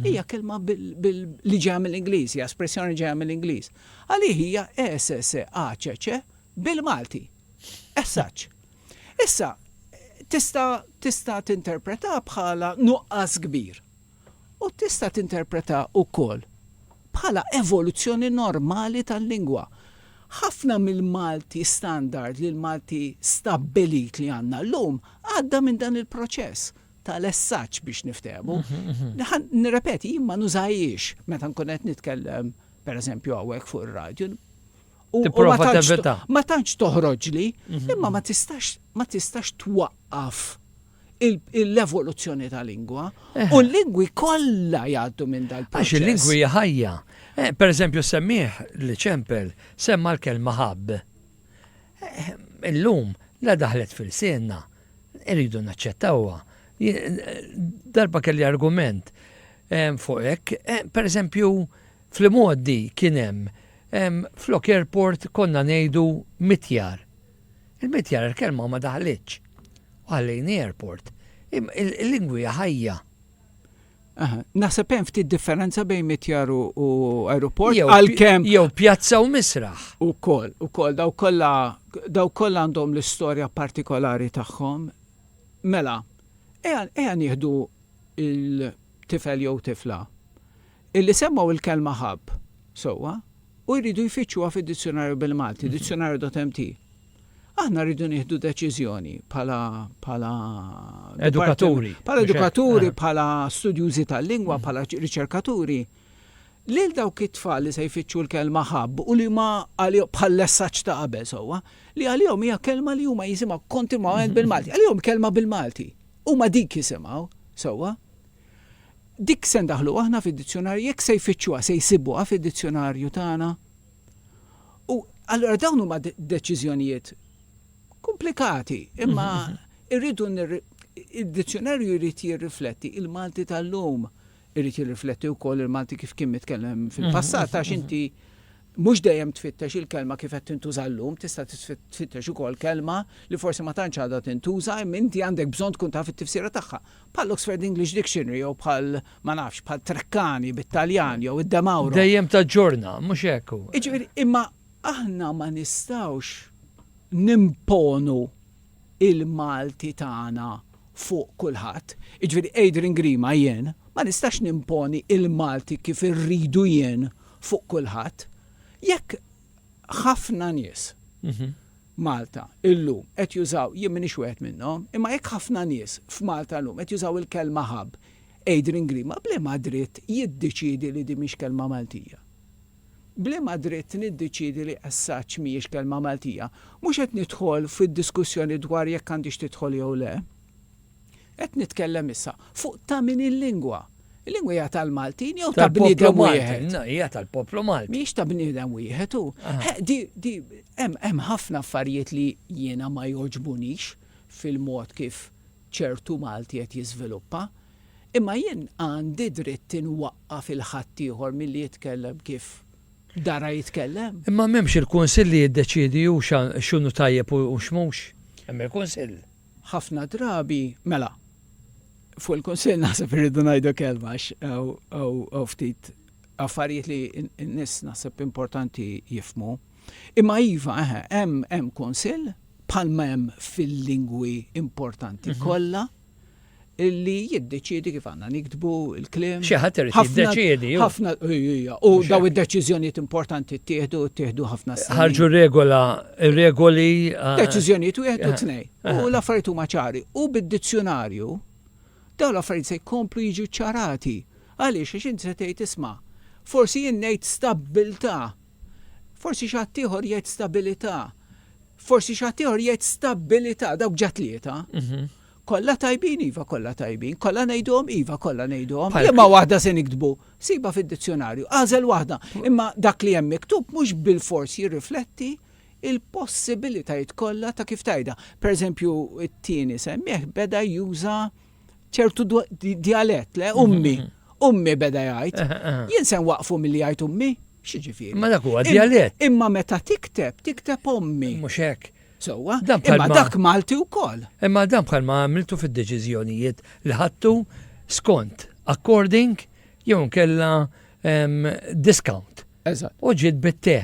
hija kelma li ġejja mill-Ingliż, hija espressjoni ġejja mill-Ingliż. Għalih hija ESSACC bil-Malti. As such. Issa, tista' tista' tinterpreta bħala nuqqas kbir. U tista' tinterpreta wkoll bħala evoluzzjoni normali tal-lingwa. Ħafna mill-Malti standard, li l-Malti stabbilit li għandna llum, Għadda minn dan il-proċess ta' lessaġġ biex niftehmu. Nirrepeti, jien ma nużajiex meta nkun qed nitkellem, per eżempju, għawek fuq ir-radju. U ma tantx toħroġli, imma ma tistax ma tistax twaqqaf l-evoluzzjoni ta' lingwa eh. u l-lingwi kollha jgħaddu minn dal Għax il-lingwi ħajja. Eh, per eżempju, semmiħ li ċempel semma l-kelma ħabb. Illum la daħlet fil-sienna, irridu naċċettawha. Darba kelli argument ehm, fuq hekk, ehm, per eżempju, fl-modi kien hemm ehm, flok airport konna ngħidu mitjar. Il-mitjar il-kelma ma daħlitx. U ħallejni airport. Il-lingwi ħajja. Naħseb hemm ftit differenza bejn mitjar u aeroport għalkemm jew pjazza u misraħ. Ukoll, ukoll daw kollha daw kollha għandhom l-istorja partikolari tagħhom. Mela, eja nieħdu il-tifel jew tifla. Illi semgħu l-kelma ħabb, sewwa, u jridu jfittxuha fid-dizzjunarju bil-Malti, Dizionario Dotemp T. Aħna rridu nieħdu deċiżjoni bħala, bħala, Edukaturi. bħala edukaturi, bħala studjużi tal-lingwa, bħala riċerkaturi, lil dawk it-tfal li se jfittxu l-kelma ħabb u li ma għalihom, bħal-lessaġġ ta' qabel sewwa, li għalihom hija kelma li huma jisimgħu kontinwament bil-Malti. Għalihom kelma bil-Malti. Huma dik jisimgħu, sewwa. Dik se ndaħħluha aħna fid-dizzjonarju, jekk se jfittxuha se jsibuha fid-dizzjonarju tagħna. U allura dawn huma deċiżjonijiet komplikati, imma irridu id-dizzjonarju jrid jirrifletti il-Malti tal-lum, irid jirrifletti wkoll il-Malti kif kien mitkellem fil-passat għax inti mhux dejjem tfittex il-kelma kif qed tintuża llum, tista' tfittex ukoll kelma li forsi ma tantx għadha tintuża, imma inti għandek bżonn tkun taf it-tifsira tagħha. bħall-Oxford English Dictionary jew bħal, ma nafx, bħal Treccani bit-Taljan jew id-De Mauro. Dejjem taġġorna, mhux hekk hu? Jiġifieri, imma aħna ma nistgħux nimponu l-Malti tagħna fuq kulħadd. Jiġifieri, Adrian Grima, jien, ma nistax nimponi l-Malti kif irridu jien fuq kulħadd. Jekk ħafna nies, Malta, illum, qed jużaw, jien m'iniex wieħed minnhom, imma jekk ħafna nies f'Malta llum qed jużaw il-kelma hub, Adrian Green ma b'liema dritt jiddeċiedi li din mhix kelma Maltija? B'liema dritt niddeċiedi li as such mhijiex kelma Maltija? Mhux qed nidħol fid-diskussjoni dwar jekk għandhiex tidħol jew le. Qed nitkellem issa fuq ta' min il-lingwa. Il-lingwa hija tal-Maltin jew ta' bniedem wieħed. Hija tal-poplu Malti. Mhix ta' bniedem wieħed u. Hemm ħafna affarijiet li jiena ma jogħġbunix fil-mod kif ċertu Malti qed jiżviluppa. Imma jien għandi dritt inwaqqaf il-ħaddieħor milli jitkellem kif dara jitkellem. Imma m'hemmx il-Kunsill li jiddeċiedi hu x'inhu tajjeb u x'mhux? Hemm il-Kunsill. Ħafna drabi, mela, fuq il-Kunsill naħseb irridu ngħidu kelma għax hawn ftit affarijiet li n-nies naħseb importanti jifhmu. Imma iva, eħe, hemm Kunsill bħalma hemm fil-lingwi importanti kollha. li jiddeċiedi kif għandna niktbu l-kliem. Xi ħadd irid jiddeċiedi. Ħafna u daw id-deċiżjonijiet importanti ttieħdu ttieħdu ħafna snin. Ħarġu regola, regoli. Ah. Deċiżjonijiet wieħed u tnej. Ah. U l-affarijiet huma ċari. U bid-dizzjonarju daw l-affarijiet se jkomplu jiġu ċarati. Għaliex għax inti se tgħid isma', forsi jien ngħid stabbiltà, forsi xi ħadd ieħor jgħid stabilità, forsi xi ħadd ieħor jgħid stabbilità dawk ġat tlieta. Mhm. Kollha tajbin, iva kollha tajbin. Kollha ngħiduhom, iva kollha ngħiduhom. Bħal- Liema waħda se niktbu? Sibha fid-dizzjonarju, agħżel waħda. Imma dak li hemm miktub mhux bilfors jirrifletti l-possibilitajiet kollha ta' kif tgħidha. Pereżempju, it-tieni semmiegħ beda juża ċertu dwa- di- djalett, le, ummi, ummi beda jgħid. Aha, aha. Jien se nwaqqfu milli jgħid ummi? X'jiġifieri? Ma dak huwa Im- djalett. Imma meta tikteb, tikteb ommi. Mhux hekk. Sewwa, imma dak Malti wkoll. Imma dan bħalma għamiltu fid-deċiżjonijiet li ħadtu skont according jew inkella discount. Eżatt. U ġiet bit-te,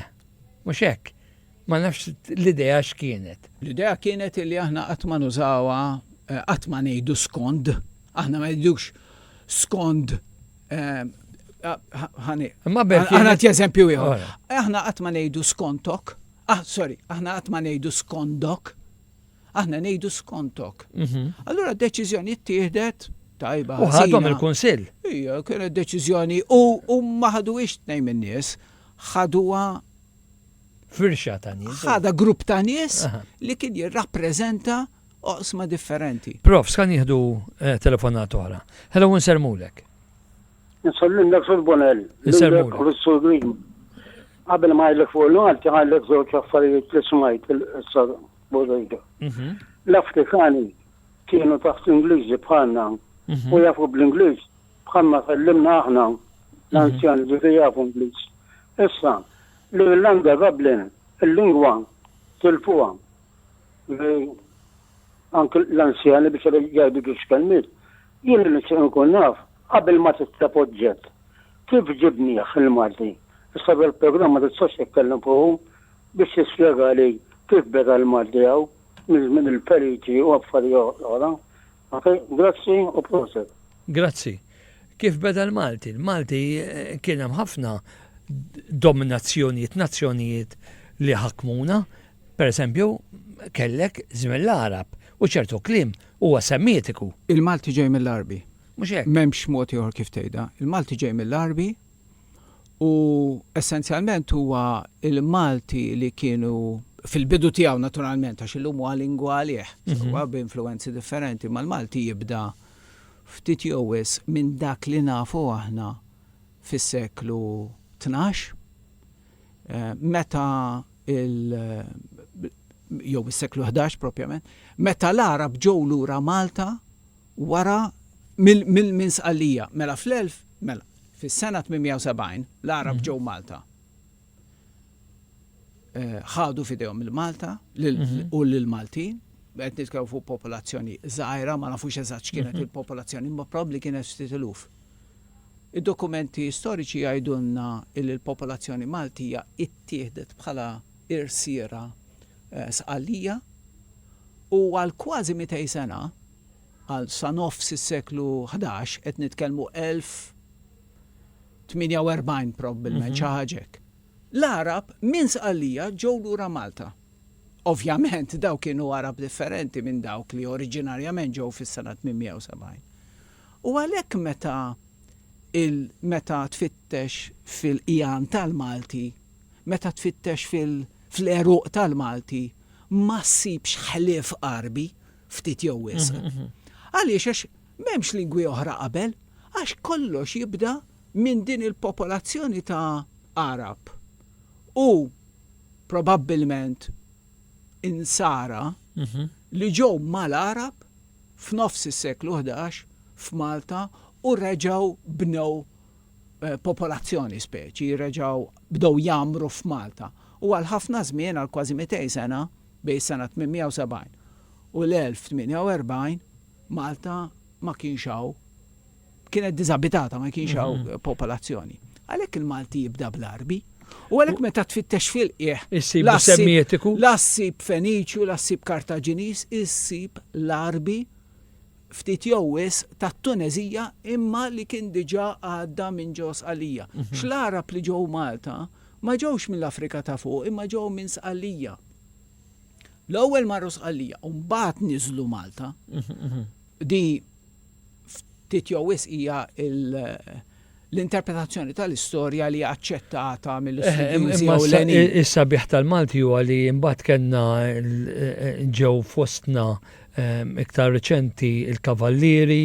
mhux hekk. Ma nafx l-idea x'kienet. L-idea kienet li aħna qatt ma nużawha eh, qatt ma ngħidu skond, aħna ma ngħidux skond eh, ħani. Imma berk. Aħna t-eżempju ieħor. Aħna qatt ma ngħidu skontok, Ah, sorry, aħna qatt ma ngħidu skondok, aħna ngħidu skontok. Mhm. Allura d-deċiżjoni ttieħdet tajba. U ħadhom il-kunsill. Ija, kienet deċiżjoni u huma ħaduhiex tnejn min-nies, ħaduha firxa ta' nies. Ħada grupp ta' nies li kien jirrappreżenta oqsma differenti. Prof, skan jieħdu eh, telefonat oħra. Hello, nsermulek. Nsallimlek Sur Bonell, lilek u l-Sur Green. Qabel ma għajlek fuq l-Malti għajlek żewġ affarijiet li smajt il-qissa Bodejda. Mhm. L-Afrikani kienu taħt Ingliżi bħalna mhm. u jafu bl-Ingliż bħalma fellimna aħna mhm. l-anzjan ġifi jafu Ingliż. Issa, l-Irlanda Dublin, il-lingwa tilfuha li anke l-anzjani biex jgħidu biex kelmiet. Jien li nkun naf Qabel ma titleb oġġett, kif ġibnieh il-Malti? Issa bil-programm ma tistax titkellem fuqu biex tispjegali kif beda l-Malti hawn minn żmien il-Feliċi u affarijiet oħra. Ok, grazzi u proset. Grazzi. Kif beda l-Malti? L-Malti kien hemm ħafna dominazzjonijiet, nazzjonijiet li ħakmuna. Per eżempju, kellek żmien l-Għarab u ċertu kliem huwa semitiku. Il-Malti ġej mill-Għarbi. Mhux hekk? M'hemmx mod ieħor kif tgħidha. Il-Malti ġej mill-Għarbi u essenzjalment huwa l-Malti li kienu fil-bidu tiegħu naturalment għax illum huwa lingwa għalih, mhm. huwa b'influwenzi differenti, ma l-Malti jibda ftit jew wis minn dak li nafu aħna fis-seklu 12 eh, meta il jew is-seklu 11 propjament, meta l-Arab ġew lura Malta wara minn Sqallija. Mela fl-elf, mela, fis-sena 870 l-Għarab ġew Malta. Eh, ħadu f'idejhom il-Malta mhm. u l-Maltin, qed nitkellmu fuq popolazzjoni żgħira, ma nafux eżatt x'kienet mhm. il-popolazzjoni, ma probabbli kienet ftit iluf. Id-dokumenti storiċi jgħidulna li l-popolazzjoni Maltija ittieħdet bħala irsiera Sqallija u għal kważi mitej sena, għal sa nofs is-seklu ħdax, qed nitkellmu 1048 probbilment, xi ħaġa hekk, l-Għarab minn Sqallija ġew lura Malta. Ovvjament dawk kienu Għarab differenti minn dawk li oriġinarjament ġew fis-sena 870. U għalhekk meta meta tfittex fil-qigħan tal-Malti meta tfittex fil-għeruq tal-Malti ma ssibx ħlief Għarbi, ftit jew wisq. Għaliex? Għax m'hemmx lingwi oħra qabel, għax kollox jibda minn din il-popolazzjoni ta' Għarab u probabbilment Insara li ġew mal-Għarab f'nofs is-seklu ħdax f'Malta u reġgħu bnew popolazzjoni, speċi, reġgħu bdew jgħammru f'Malta u għal ħafna żmien, għal kważi mitej sena, bejn is-sena 870 u l-1048, Malta ma kienx hawn, kienet diżabitata, ma kienx hawn popolazzjoni. Għalhekk il-Malti jibda bl-Għarbi. U għalhekk meta tfittex fil-qiegħ, Issib semmietiku. la ssib Feniċju, la ssib Kartaġiniż, issib l-Għarbi ftit jew wisq tat-Tuneżija imma li kien diġà għadda minn ġo Sqalija. X'l-Għarab li ġew Malta ma ġewx mill-Afrika ta' Fuq imma ġew minn Sqalija. L-ewwel marru Sqalija u mbagħad niżlu Malta. Di ftit jew wisq hija l- l-interpretazzjoni tal-istorja li hija aċċettata mill-istudjużi ewlenin. Imma is-sabiħ tal-Malti huwa li mbagħad kellna ġew fostna ehm, iktar reċenti il-Kavallieri,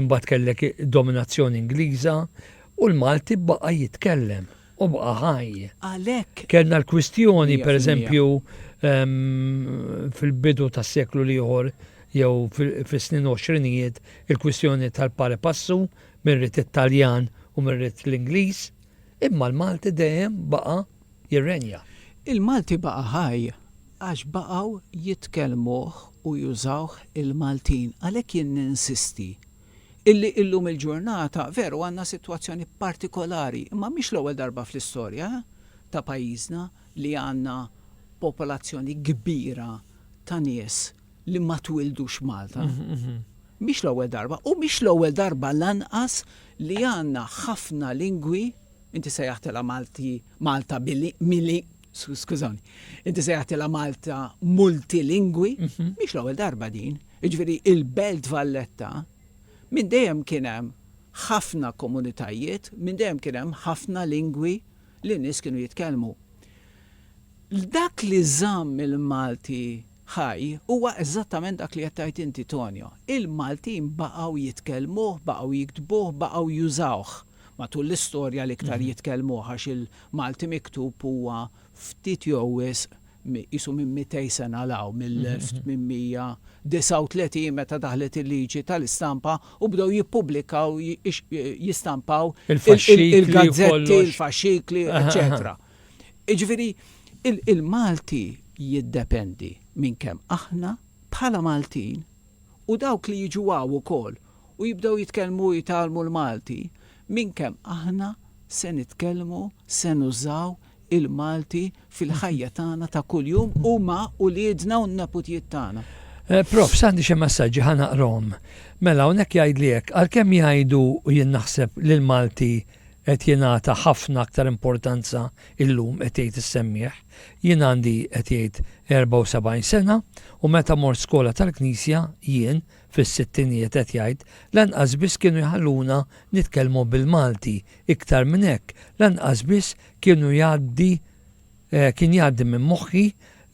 imbagħad kellek dominazzjoni Ingliża u l-Malti baqa' jitkellem u baqa' ħaj. Għalhekk. Kellna l-kwistjoni pereżempju ehm, fil-bidu tas-seklu l-ieħor jew fis-snin 20 il-kwistjoni tal-pare passu Min ried it-Taljan u min ried l-Ingliż, imma l-Malti dejjem baqa' jirrenja. Il-Malti baqa' ħaj għax baqgħu jitkellmuh u jużawh il-Maltin. Għalhekk jien ninsisti illi illum il-ġurnata, veru għandna sitwazzjoni partikolari, imma mhix l-ewwel darba fl-istorja ta' pajjiżna li għandna popolazzjoni kbira ta' nies li ma twildux Malta. Mhix l-ewwel darba u mhix l-ewwel darba lanqas li għandna ħafna lingwi inti sejjaħtilha Malti Malta bili mili skużawni. Inti sejjaħtilha Malta multilingwi, mhix l-ewwel darba din. Jiġifieri il-Belt Valletta minn dejjem kien hemm ħafna komunitajiet, minn dejjem kien hemm ħafna lingwi li n-nies kienu jitkellmu. Dak li żamm il-Malti Hi, huwa eżattament dak li qed tgħid inti, Tonio. Il-Maltin baqgħu jitkellmuh, baqgħu jiktbuh, baqgħu jużawh matul l-istorja l-iktar jitkellmuh għax il-Malti miktub huwa ftit jew wisq qisu minn mitej sena 'l hawn, mill-1839 meta daħlet il-liġi tal-istampa u bdew jippubblikaw, jistampaw il-gazzetti, il-faxxikli, eċċetera. Jiġifieri il-Malti jiddependi minn kemm aħna bħala Maltin u dawk li jiġu hawn ukoll u jibdew jitkellmu u jitgħallmu l-Malti, minn kemm aħna se nitkellmu, se nużaw il-Malti fil-ħajja tagħna ta' kuljum u ma' uliedna u n-neputjiet tagħna. Prof, għandi xi messaġġi ħa naqrahom. Mela hawnhekk jgħidli hekk, għalkemm jgħidu u jien naħseb li l-Malti qed jingħata ħafna aktar importanza illum, qed jgħid is-semmiegħ. Jien għandi, qed jgħid, 74 sena u meta mort skola tal-Knisja, jien, fis-sittinijiet qed jgħid, lanqas biss kienu jħalluna nitkellmu bil-Malti, iktar minn hekk, lanqas biss kienu jgħaddi Kien jgħaddi minn moħħi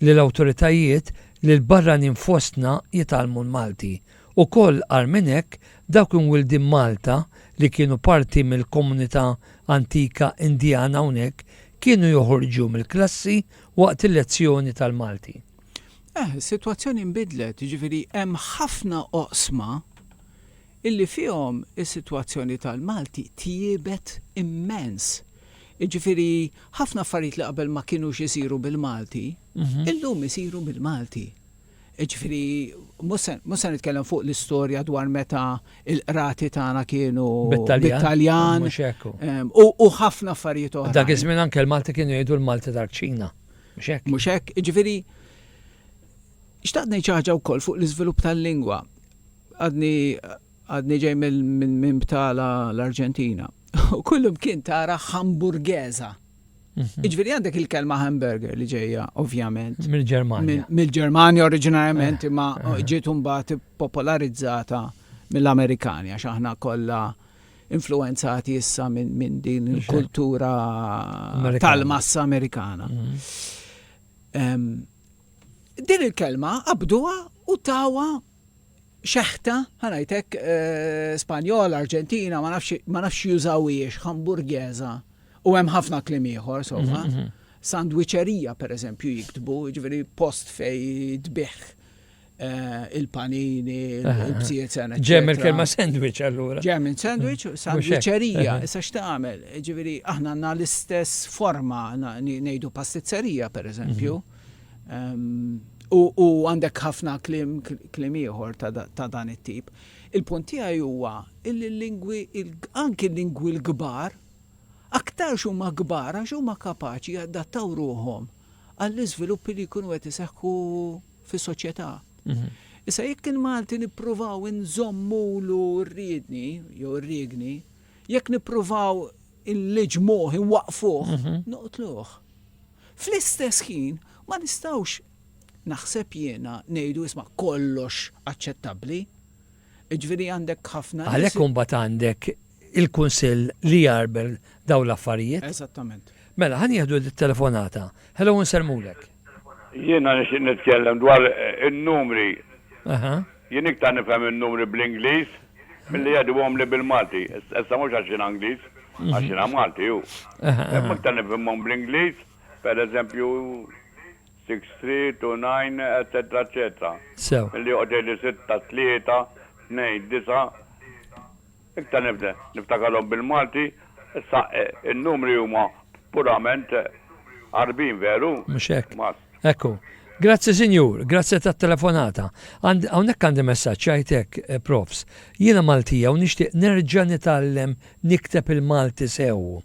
li l-awtoritajiet li l-barranin fostna jitgħallmu l-Malti. Ukoll agħar minn hekk, dawk imwildin Malta li kienu parti mill-komunità antika Indjana hawnhekk kienu joħorġu mill-klassi waqt il-lezzjoni tal-Malti. Eh, is-sitwazzjoni nbidlet, jiġifieri hemm ħafna oqsma illi fihom is-sitwazzjoni tal-Malti tjiebet immens. Jiġifieri ħafna affarijiet li qabel ma kinux isiru bil-Malti, illum isiru bil-Malti. Jiġifieri mhux se mhux se nitkellem fuq l-istorja dwar meta l-qrati tagħna kienu bit-Taljan u ħafna affarijiet oħra. Dak iż-żmien anke l-Malti kienu jgħidu l-Malti tal-kċina. Mhux hekk? Mhux hekk. Jiġifieri xtaqt ngħid xi ħaġa wkoll fuq l-iżvilupp tal-lingwa. Għadni għadni ġej minn btala l-Arġentina. U kullum kien tara hamburgeza. Mhm. Iġveri għandek il-kelma hamburger li ġeja, ovvjament. Mill-Germania. Mill-Germania oriġinarjament eh, imma eh. ġiet mbagħad popolarizzata mill-Amerikani għax aħna kollha influenzati issa minn din il-kultura tal-massa Amerikana. Mhm. Din il-kelma qabduha u tawa xeħta, ħa ngħid hekk, Spanjola, Arġentina, ma nafx ma nafx jużawhiex, hamburgesa, u hemm ħafna kliem ieħor, somma. Mhm, mhm. Sandwiċerija, per eżempju, jiktbu, ġifieri post fej tbih eh, il-panini, il-bżiet sena. Ġem il-kelma sandwich allura. Ġem il-sandwich, mhm. sandwiċerija, issa x'tagħmel, ġifieri aħna għandna l-istess forma ngħidu pastizzerija, per eżempju. U għandek ħafna kliem ieħor ta' dan it-tip. Il-punt tiegħi huwa li l-lingwi anki l-lingwi l-kbar aktarx huma kbar għax huma kapaċi jadattaw ruħhom għall-iżviluppi li jkunu qed iseħħu fis-soċjetà. Mhm. Issa jekk il-Malti nippruvaw inżommulu rridni jew rigni, Jekk nippruvaw inliġmuh, inwaqqfuh, mhm. noqtluh. Fl-istess ħin ma nistgħux naħseb jiena ngħidu isma' kollox aċċettabbli. Ġifieri għandek ħafna. Għalhekk imbagħad għandek il-kunsill li jarbel daw l-affarijiet. Eżattament. Mela, ħan jieħdu d-telefonata. Hello, nsermulek. Jiena nixtieq nitkellem dwar in-numri. Jien iktar nifhem in-numri bl-Ingliż milli qed iwhomli bil-Malti. Issa mhux għax jiena Ingliż, għax jiena Malti hu. Imma iktar nifhimhom bl-Ingliż, per eżempju, six three two nine eċċetera eċċetera. Sew. Milli joqgħod jgħidli sitta tlieta tnejn disa'. Iktar nibda niftakarhom bil-Malti, issa n-numri huma purament Għarbin, veru? Mhux hekk? Hekk hu. Grazzi Sinjur, grazzi tat-telefonata. Għand, hawnhekk għandi messaġġ jgħid hekk, Profs. Jiena Maltija u nixtieq nerġa' nitgħallem nikteb il-Malti sew.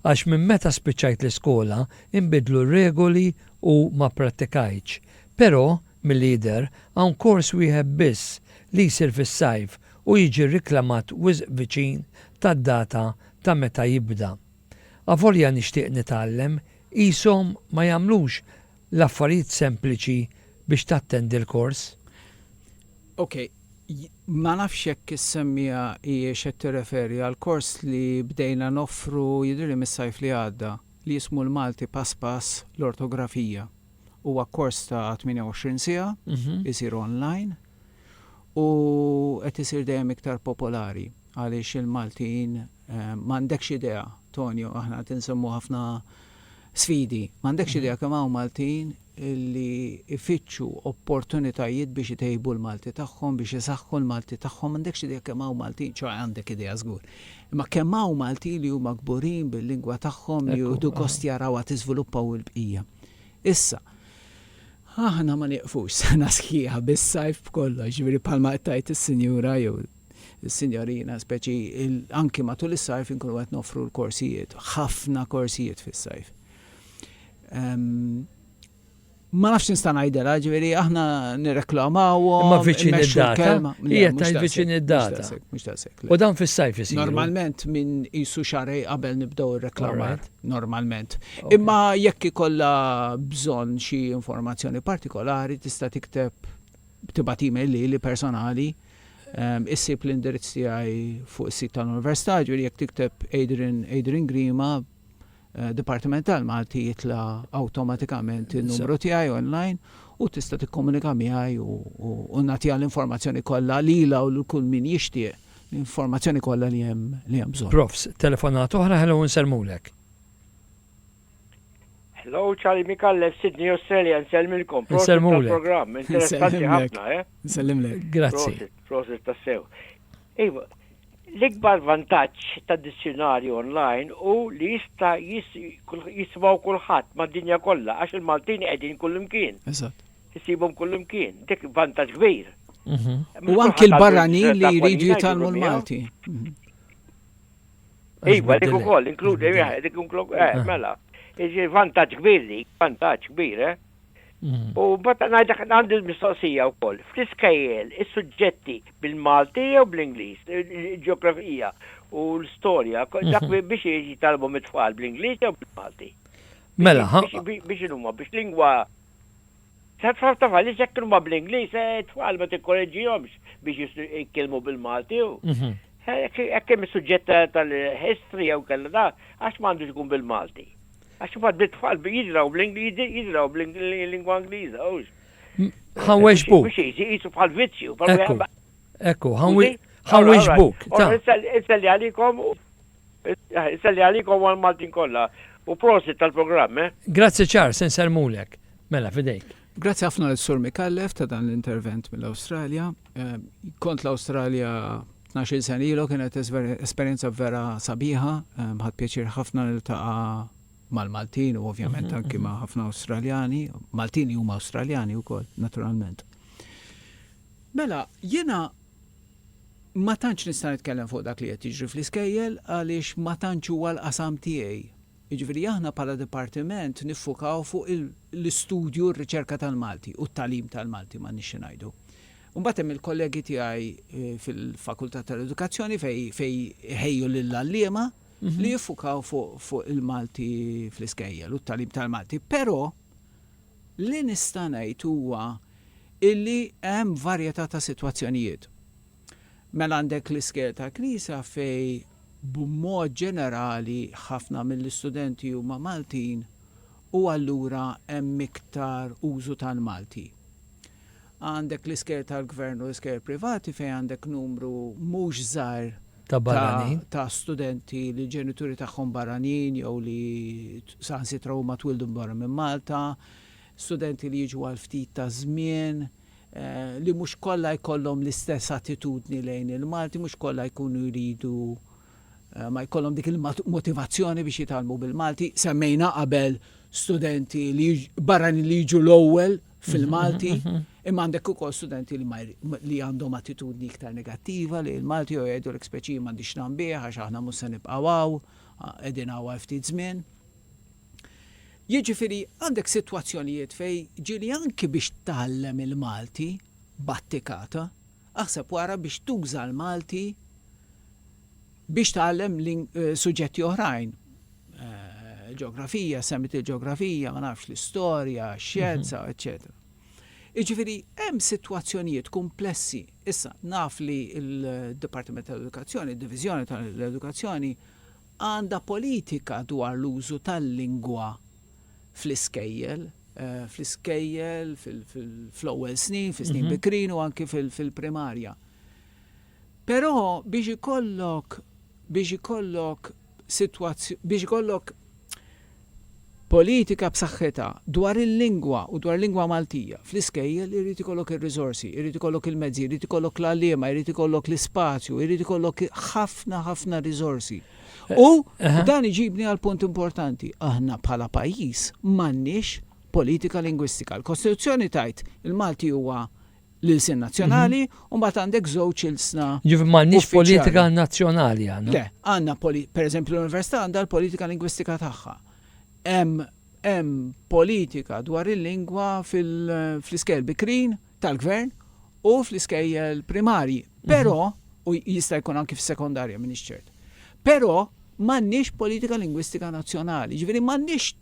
Għax minn meta spiċċajt l-iskola inbidlu r-regoli u ma pprattikajtx. Però, milli jidher, hawn kors wieħed biss li jsir fis-sajf u jiġi riklamat wisq viċin tad-data ta' meta jibda. Avolja nixtieq nitgħallem, qishom ma jagħmlux l-affarijiet sempliċi biex tattendi l-kors. Ok, ma nafx jekk is-semmiegħa hijiex qed tirreferi għall-kors li bdejna noffru jidhirli mis-sajf li għadda, li jismu l-Malti Pass Pass l-Ortografija. Huwa kors ta' 28 siegħa, isir online. u qed isir dejjem iktar popolari għaliex il-Maltin m'għandekx idea, Tonio, aħna qed insemmu ħafna sfidi, m'għandekx idea kemm hawn Maltin li jfittxu opportunitajiet biex itejbu l-Malti tagħhom, biex isaħħu l-Malti tagħhom, m'għandekx idea kemm hawn Maltin, ċoe għandek idea żgur, imma kemm hawn Maltin li huma kburin bil-lingwa tagħhom, li jieħdu gost jarawha tiżviluppa u l-bqija. Issa, aħna ma nieqfux sena sħiħa bis-sajf b'kollox, jiġifieri bħalma qed tgħid is-sinjura jew is-sinjorina speċi anki matul is-sajf inkunu qed noffru l-korsijiet, ħafna korsijiet fis-sajf. Ma nafx nista' ngħidilha, ġifieri aħna nirreklamawhom. Ma viċin id-data. Hija tajt viċin id-data. U dan fis-sajf isir. Normalment minn isu xarej qabel nibdew ir-reklamat. normalment. Imma jekk ikollha bżonn xi informazzjoni partikolari tista' tikteb tibgħat email lili personali ehm, issib l-indirizz tiegħi fuq is-sit tal-Università, ġifieri jekk tikteb Adrian Adrian Grima eh, Dipartiment tal-Malti jitla awtomatikament in-numru tiegħi online u tista' tikkomunika miegħi u, u, u nagħtiha l-informazzjoni kollha lilha u lil kull min jixtieq. l-informazzjoni kollha li hemm li hemm bżonn. Profs. Telefonata oħra, hello nsellmulek. Hello, Charlie Mikallef, Sydney, Australia, nsellmilkom. Nsellmulek. Program, interessanti ħafna, eh? Nsellmlek. Grazzi. Prosit, tassew. Iva, l-ikbar vantaġġ ta' dizzjonarju online u li jista' jismaw kulħadd mad-dinja kollha għax il-Maltin qegħdin kullimkien. Eżatt. Issibhom kullimkien, dik vantaġġ kbir. Mhm. U anki l-barranin li jridu jitalmu l-Malti. Mhm. Iva, dik ukoll, inkludi, eh, dik ukoll, eh, ah. mela. Iġi vantaġġ kbir li, vantaġġ kbir, eh. Mhm. U bata najdak għandi l-mistoqsija u koll. Fl-iskajjel, il-sujġetti bil-Malti jew bl-Inglis, il-ġeografija u l-storja, dak mhm. biex jieġi talbu mit-tfal bl-Inglis jew bil-Malti. Mela, biex il-umma, biex lingwa Sa tfal tafal li sekk huma bl-Ingliż, eh, tfal ma tikkoreġġihomx biex jitkellmu bil-Malti. Mhm. Hekk hemm is-suġġett tal-history jew kellha da, għax m'għandux ikun bil-Malti. Għax imbagħad bit-tfal jidraw bl-Ingliż, jidraw bl-lingwa Ingliża, hux. Ħanweġbu. Biex jisu bħal vizzju. Ekku, ekku, ħanweġbuk. Issa li għalikom Isalli għalikom u għal Maltin kollha u prosit tal-programm eh. Grazzi Charles, se nsellmulek. Mela, f'idejk. Grazzi ħafna lil Sur Micallef ta' dan l-intervent mill-Awstralja. Kont l-Awstralja tnax-il sena ilu kienet esperjenza vera sabiħa, ħadt pjaċir ħafna niltaqa' mal-Maltin u ovvjament anki ma' ħafna Awstraljani, Maltin li huma Awstraljani wkoll naturalment. Mela, jiena Ma tantx nista' nitkellem fuq dak li qed jiġri fl-iskejjel għaliex ma tantx huwa l-qasam tiegħi. Jiġifieri aħna bħala dipartiment niffukaw fuq l-istudju u r-riċerka tal-Malti u t-tagħlim tal-Malti m'għandniex xi ngħidu. Imbagħad hemm il-kollegi tiegħi fil-Fakultà tal-Edukazzjoni fejn iħejju lill-għalliema li jiffukaw fuq il-Malti fl-iskejjel u t-tagħlim tal-Malti. Però. Li nista' ngħid huwa illi hemm varjetà ta' sitwazzjonijiet. Mela għandek l-iskejjel tal-Knisja fejn b'mod ġenerali ħafna mill-istudenti huma Maltin u allura hemm iktar użu tal-Malti. Għandek l-iskejjel tal-Gvern u l-iskejjel privati fejn għandek numru mhux żgħir ta' barranin. Ta' ta' studenti li l-ġenituri tagħhom barranin jew li saħansitra huma twildu barra minn Malta, studenti li jiġu għal ftit ta' żmien, li mhux kollha jkollhom l-istess attitudni lejn il-Malti, mhux kollha jkunu jridu ma jkollhom dik il-motivazzjoni biex jitgħallmu bil-Malti. Semmejna qabel studenti li barranin li jiġu l-ewwel fil-Malti, imma għandek ukoll studenti li għandhom attitudni iktar negattiva li l-Malti jew jgħidu l speċi m'għandix nambih għax aħna mhux se nibqgħu hawn, qegħdin hawn għal ftit żmien. Jiġifieri għandek sitwazzjonijiet fej ġieli anki biex tgħallem il-Malti battikata, aħseb wara biex tuża l-Malti biex tgħallem suġġetti oħrajn. Ġeografija, semmit il-ġeografija, ma nafx l-istorja, xjenza, eċċetera. Iġifiri, hemm situazzjonijiet komplessi. Issa, naf li il-Departiment tal-Edukazzjoni, il-Divizjoni tal-Edukazzjoni, għanda politika dwar l-użu tal-lingwa fl-iskejjel, eh, fl-iskejjel, fl-ewwel snin, fl-snin mhm. bikrin u anki fil-primarja. Però biex ikollok biex ikollok sitwazz biex ikollok politika b'saħħitha dwar il-lingwa u dwar il-lingwa Maltija fl-iskejjel irid ikollok ir-riżorsi, irid ikollok il-mezzi, irid ikollok l-għalliema, irid ikollok l-ispazju, irid ikollok ħafna ħafna riżorsi. U dan iġibni għal punt importanti, aħna bħala pajjiż m'għandniex politika lingwistika. Il-Kostituzzjoni tgħid il-Malti huwa l-ilsien nazzjonali u mbagħad għandek żewġ ilsna. Jiġifieri m'għandniex politika nazzjonali għandna. Le, għandna pereżempju l-Università għandha l-politika lingwistika tagħha. Hemm politika dwar il-lingwa fl-iskejjel bikrin tal-gvern u fl-iskejjel primarji. Mhm. Però, u jista' jkun anki fis-sekondarja minn ċert. Però m'għandniex politika lingwistika nazzjonali, ġifieri m'għandniex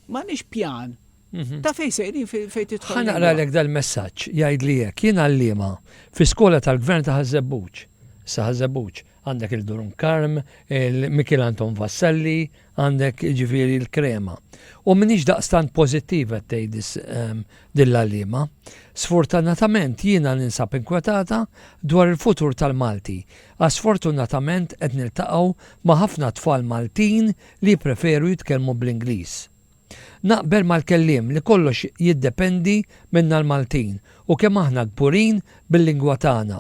m'għandniex pjan Mhm. Ta' fejn sejrin fejn titħol. Ħa naqra lek dal-messaġġ jgħid li hekk jien għalliema fi skola tal-Gvern ta' Ħażebbuġ. Sa Ħażebbuġ għandek il-Durum Karm, il-Mikil Anton Vassalli, għandek ġifieri l-Krema. U minix daqstant pożittiva tgħid ehm, dill-għalliema. Sfortunatament jiena ninsab inkwetata dwar il-futur tal-Malti. Għas sfortunatament qed niltaqgħu ma' ħafna tfal Maltin li preferu jitkellmu bl-Ingliż. Naqbel mal-kelliem li kollox jiddependi minna l-Maltin u kemm aħna kburin bil-lingwa tagħna.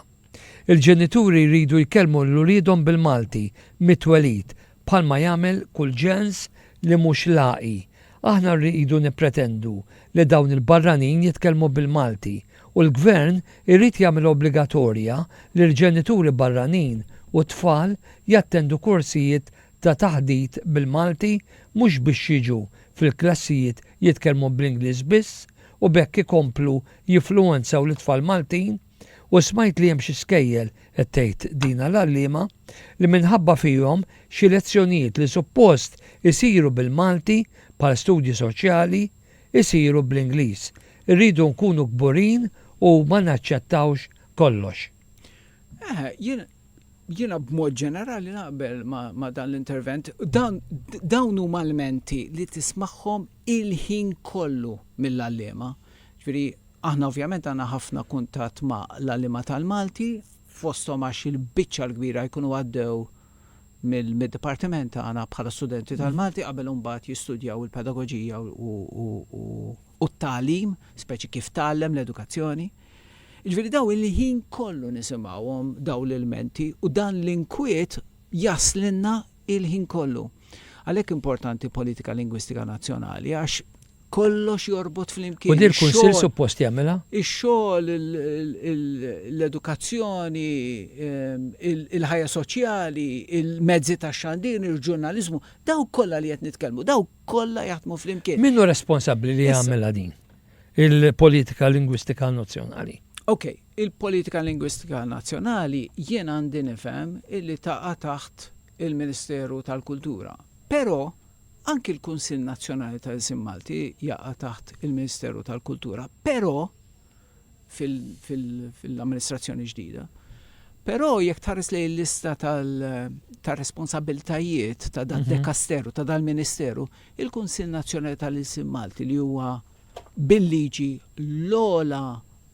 Il-ġenituri jridu jkellmu lil uliedhom bil-Malti mit-twelid bħalma jagħmel kull ġens li mhux laqi. Aħna rridu nippretendu li dawn il-barranin jitkellmu bil-Malti u l-Gvern irid jagħmilha obbligatorja li l-ġenituri barranin u t-tfal jattendu korsijiet ta' taħdit bil-Malti mhux biex jiġu fil-klassijiet jitkellmu bl-Ingliż biss u b'hekk ikomplu jifluwenzaw lit-tfal Maltin u smajt li hemm xi skejjel, qed tgħid Dina l-għalliema, li minħabba fihom xi lezzjonijiet li suppost isiru bil-Malti bħal studji soċjali jsiru bl-Ingliż. Irridu nkunu kburin u ma naċċettawx kollox. Eħe, jien Jiena b'mod ġenerali naqbel ma' dan l-intervent. Dawn huma lmenti li tismagħhom il-ħin kollu mill-għalliema. Jiġifieri aħna ovvjament għandna ħafna kuntatt ma' l-għalliema tal-Malti, fosthom għax il-biċċa l-kbira jkunu għaddew mid-dipartiment tagħna bħala studenti tal-Malti qabel imbagħad jistudjaw il-pedagoġija u t-tagħlim, speċi kif tgħallem, l-edukazzjoni. Jiġifieri dawn il-ħin kollu nisimgħuhom dawn l-ilmenti u dan l-inkwiet jaslilna il-ħin kollu. Għalhekk importanti politika lingwistika nazzjonali għax kollox jorbot flimkien. U dir kunsill suppost jagħmilha? Ix-xogħol, l-edukazzjoni, ehm, il-ħajja soċjali, il-mezzi tax-xandir, il-ġurnaliżmu, daw kollha li qed nitkellmu, daw kollha jaħdmu flimkien. Minnu responsabbli li jagħmilha din? il-politika lingwistika nazzjonali. Ok, il-politika lingwistika nazzjonali jien għandi nifhem illi taqa' taħt il-Ministeru tal-Kultura. Però anki l-Kunsill Nazzjonali tal-Ilsien Malti jaqa' taħt il-Ministeru tal-Kultura. Però fil-amministrazzjoni ġdida. Però jekk tħares lejn il-lista tar-responsabbiltajiet ta' dal-dekasteru, ta' dal-ministeru, Il-Kunsill Nazzjonali tal-Ilsien Malti li huwa bil-liġi l-ogħla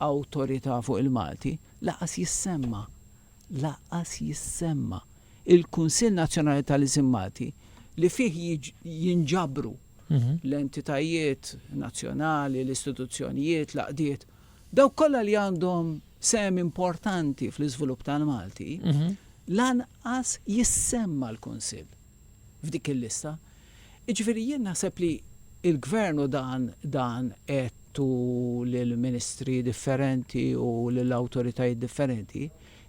awtorità fuq il-Malti, lanqas jissemma, lanqas jissemma, il-Kunsill Nazzjonali tal-Ilsien Malti li fih jinġabru l-entitajiet nazzjonali, l-istituzzjonijiet, l-għaqdiet, dawk kollha li għandhom sehem importanti fl-iżvilupp tal-Malti, lanqas jissemma l-Kunsill. f'dik il-lista. Jiġifieri jien naħseb li l-Gvern u dan dan għedtu lill-Ministri differenti u lil awtoritajiet differenti,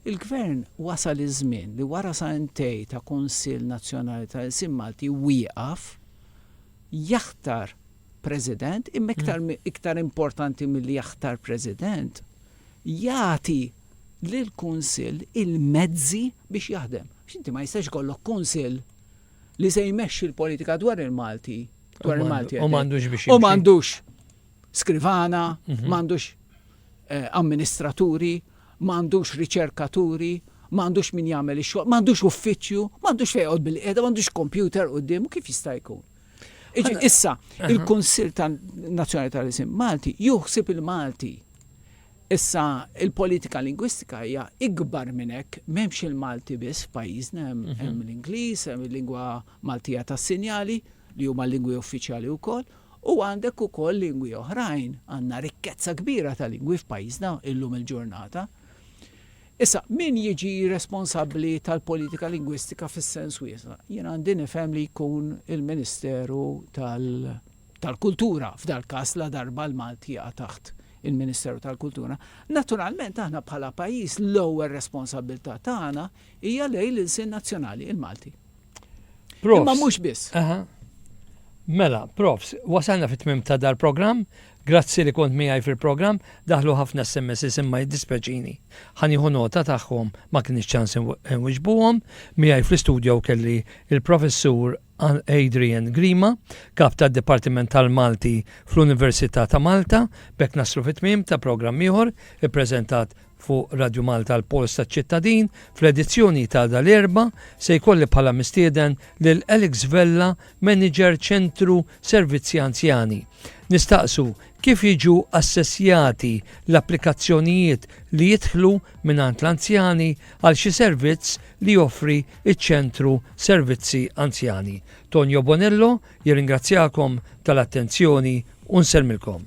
il-Gvern wasal iż-żmien li wara sentej ta' Kunsill Nazzjonali tal-Ilsien Malti wieqaf, jaħtar President, imma iktar iktar importanti milli jaħtar President, jagħti, lill-Kunsill il-mezzi biex jaħdem. Għax inti ma jistax ikollok Kunsill li se jmexxi l-politika dwar il-Malti, dwar il-Malti. U m'għandux biex. U m'għandux skrivana, mhm. m'għandux eh, amministraturi, m'għandux riċerkaturi, m'għandux min jagħmel ix-xogħol, m'għandux uffiċċju, m'għandux fejqod bil-qiegħda, m'għandux kompjuter quddiem, kif jista' jkun? Issa, il-Kunsill tan Nazzjonali tal-Isim Malti juħsib il-Malti Issa, il-politika lingwistika hija ikbar minn hekk. M'hemmx il-Malti biss f'pajjiżna, hemm l-Ingliż, hemm il-lingwa Maltija tas-sinjali, li huma lingwi uffiċjali wkoll, u għandek ukoll lingwi oħrajn. Għandna rikkezza kbira ta' lingwi f'pajjiżna illum il-ġurnata. Issa, min jiġi responsabbli tal-politika lingwistika fis-sens wiesa'? Jien għandi nifhem li jkun il-Ministeru tal-. tal-Kultura, f'dal-każ ladarba l-Malti jaqa' taħt il-Ministeru tal-Kultura. Naturalment aħna bħala pajjiż l-ewwel responsabbiltà tagħna hija lejn l-ilsien nazzjonali, il-Malti. Profs. Imma mhux biss. Mela, profs, wasalna fit-tmim ta' dal-programm, grazzi li kont miegħi fil-programm, daħlu ħafna SMS imma jiddispeċini. Ħaniħu nota tagħhom ma kienx ċans inwiġbuhom, miegħi fl-istudio kelli il-professur qal Adrian Grima, Kap tad-Dipartiment tal-Malti fl-Università ta' Malta. B'hekk naslu fi tmiem ta' programm ieħor ippreżentat fuq Radju Malta l-Pols taċ-Ċittadin. Fl-edizzjoni ta' dal-Erbgħa se jkolli bħala mistieden lil Alex Vella, Manager Ċentru Servizzi Anzjani. Nistaqsu Kif jiġu assessjati l-applikazzjonijiet li jidħlu mingħand l-anzjani għal xi servizz li joffri ċ-Ċentru Servizzi Anzjani? Tonio Bonello jirringrazzjakom tal-attenzjoni u nsellmilkom.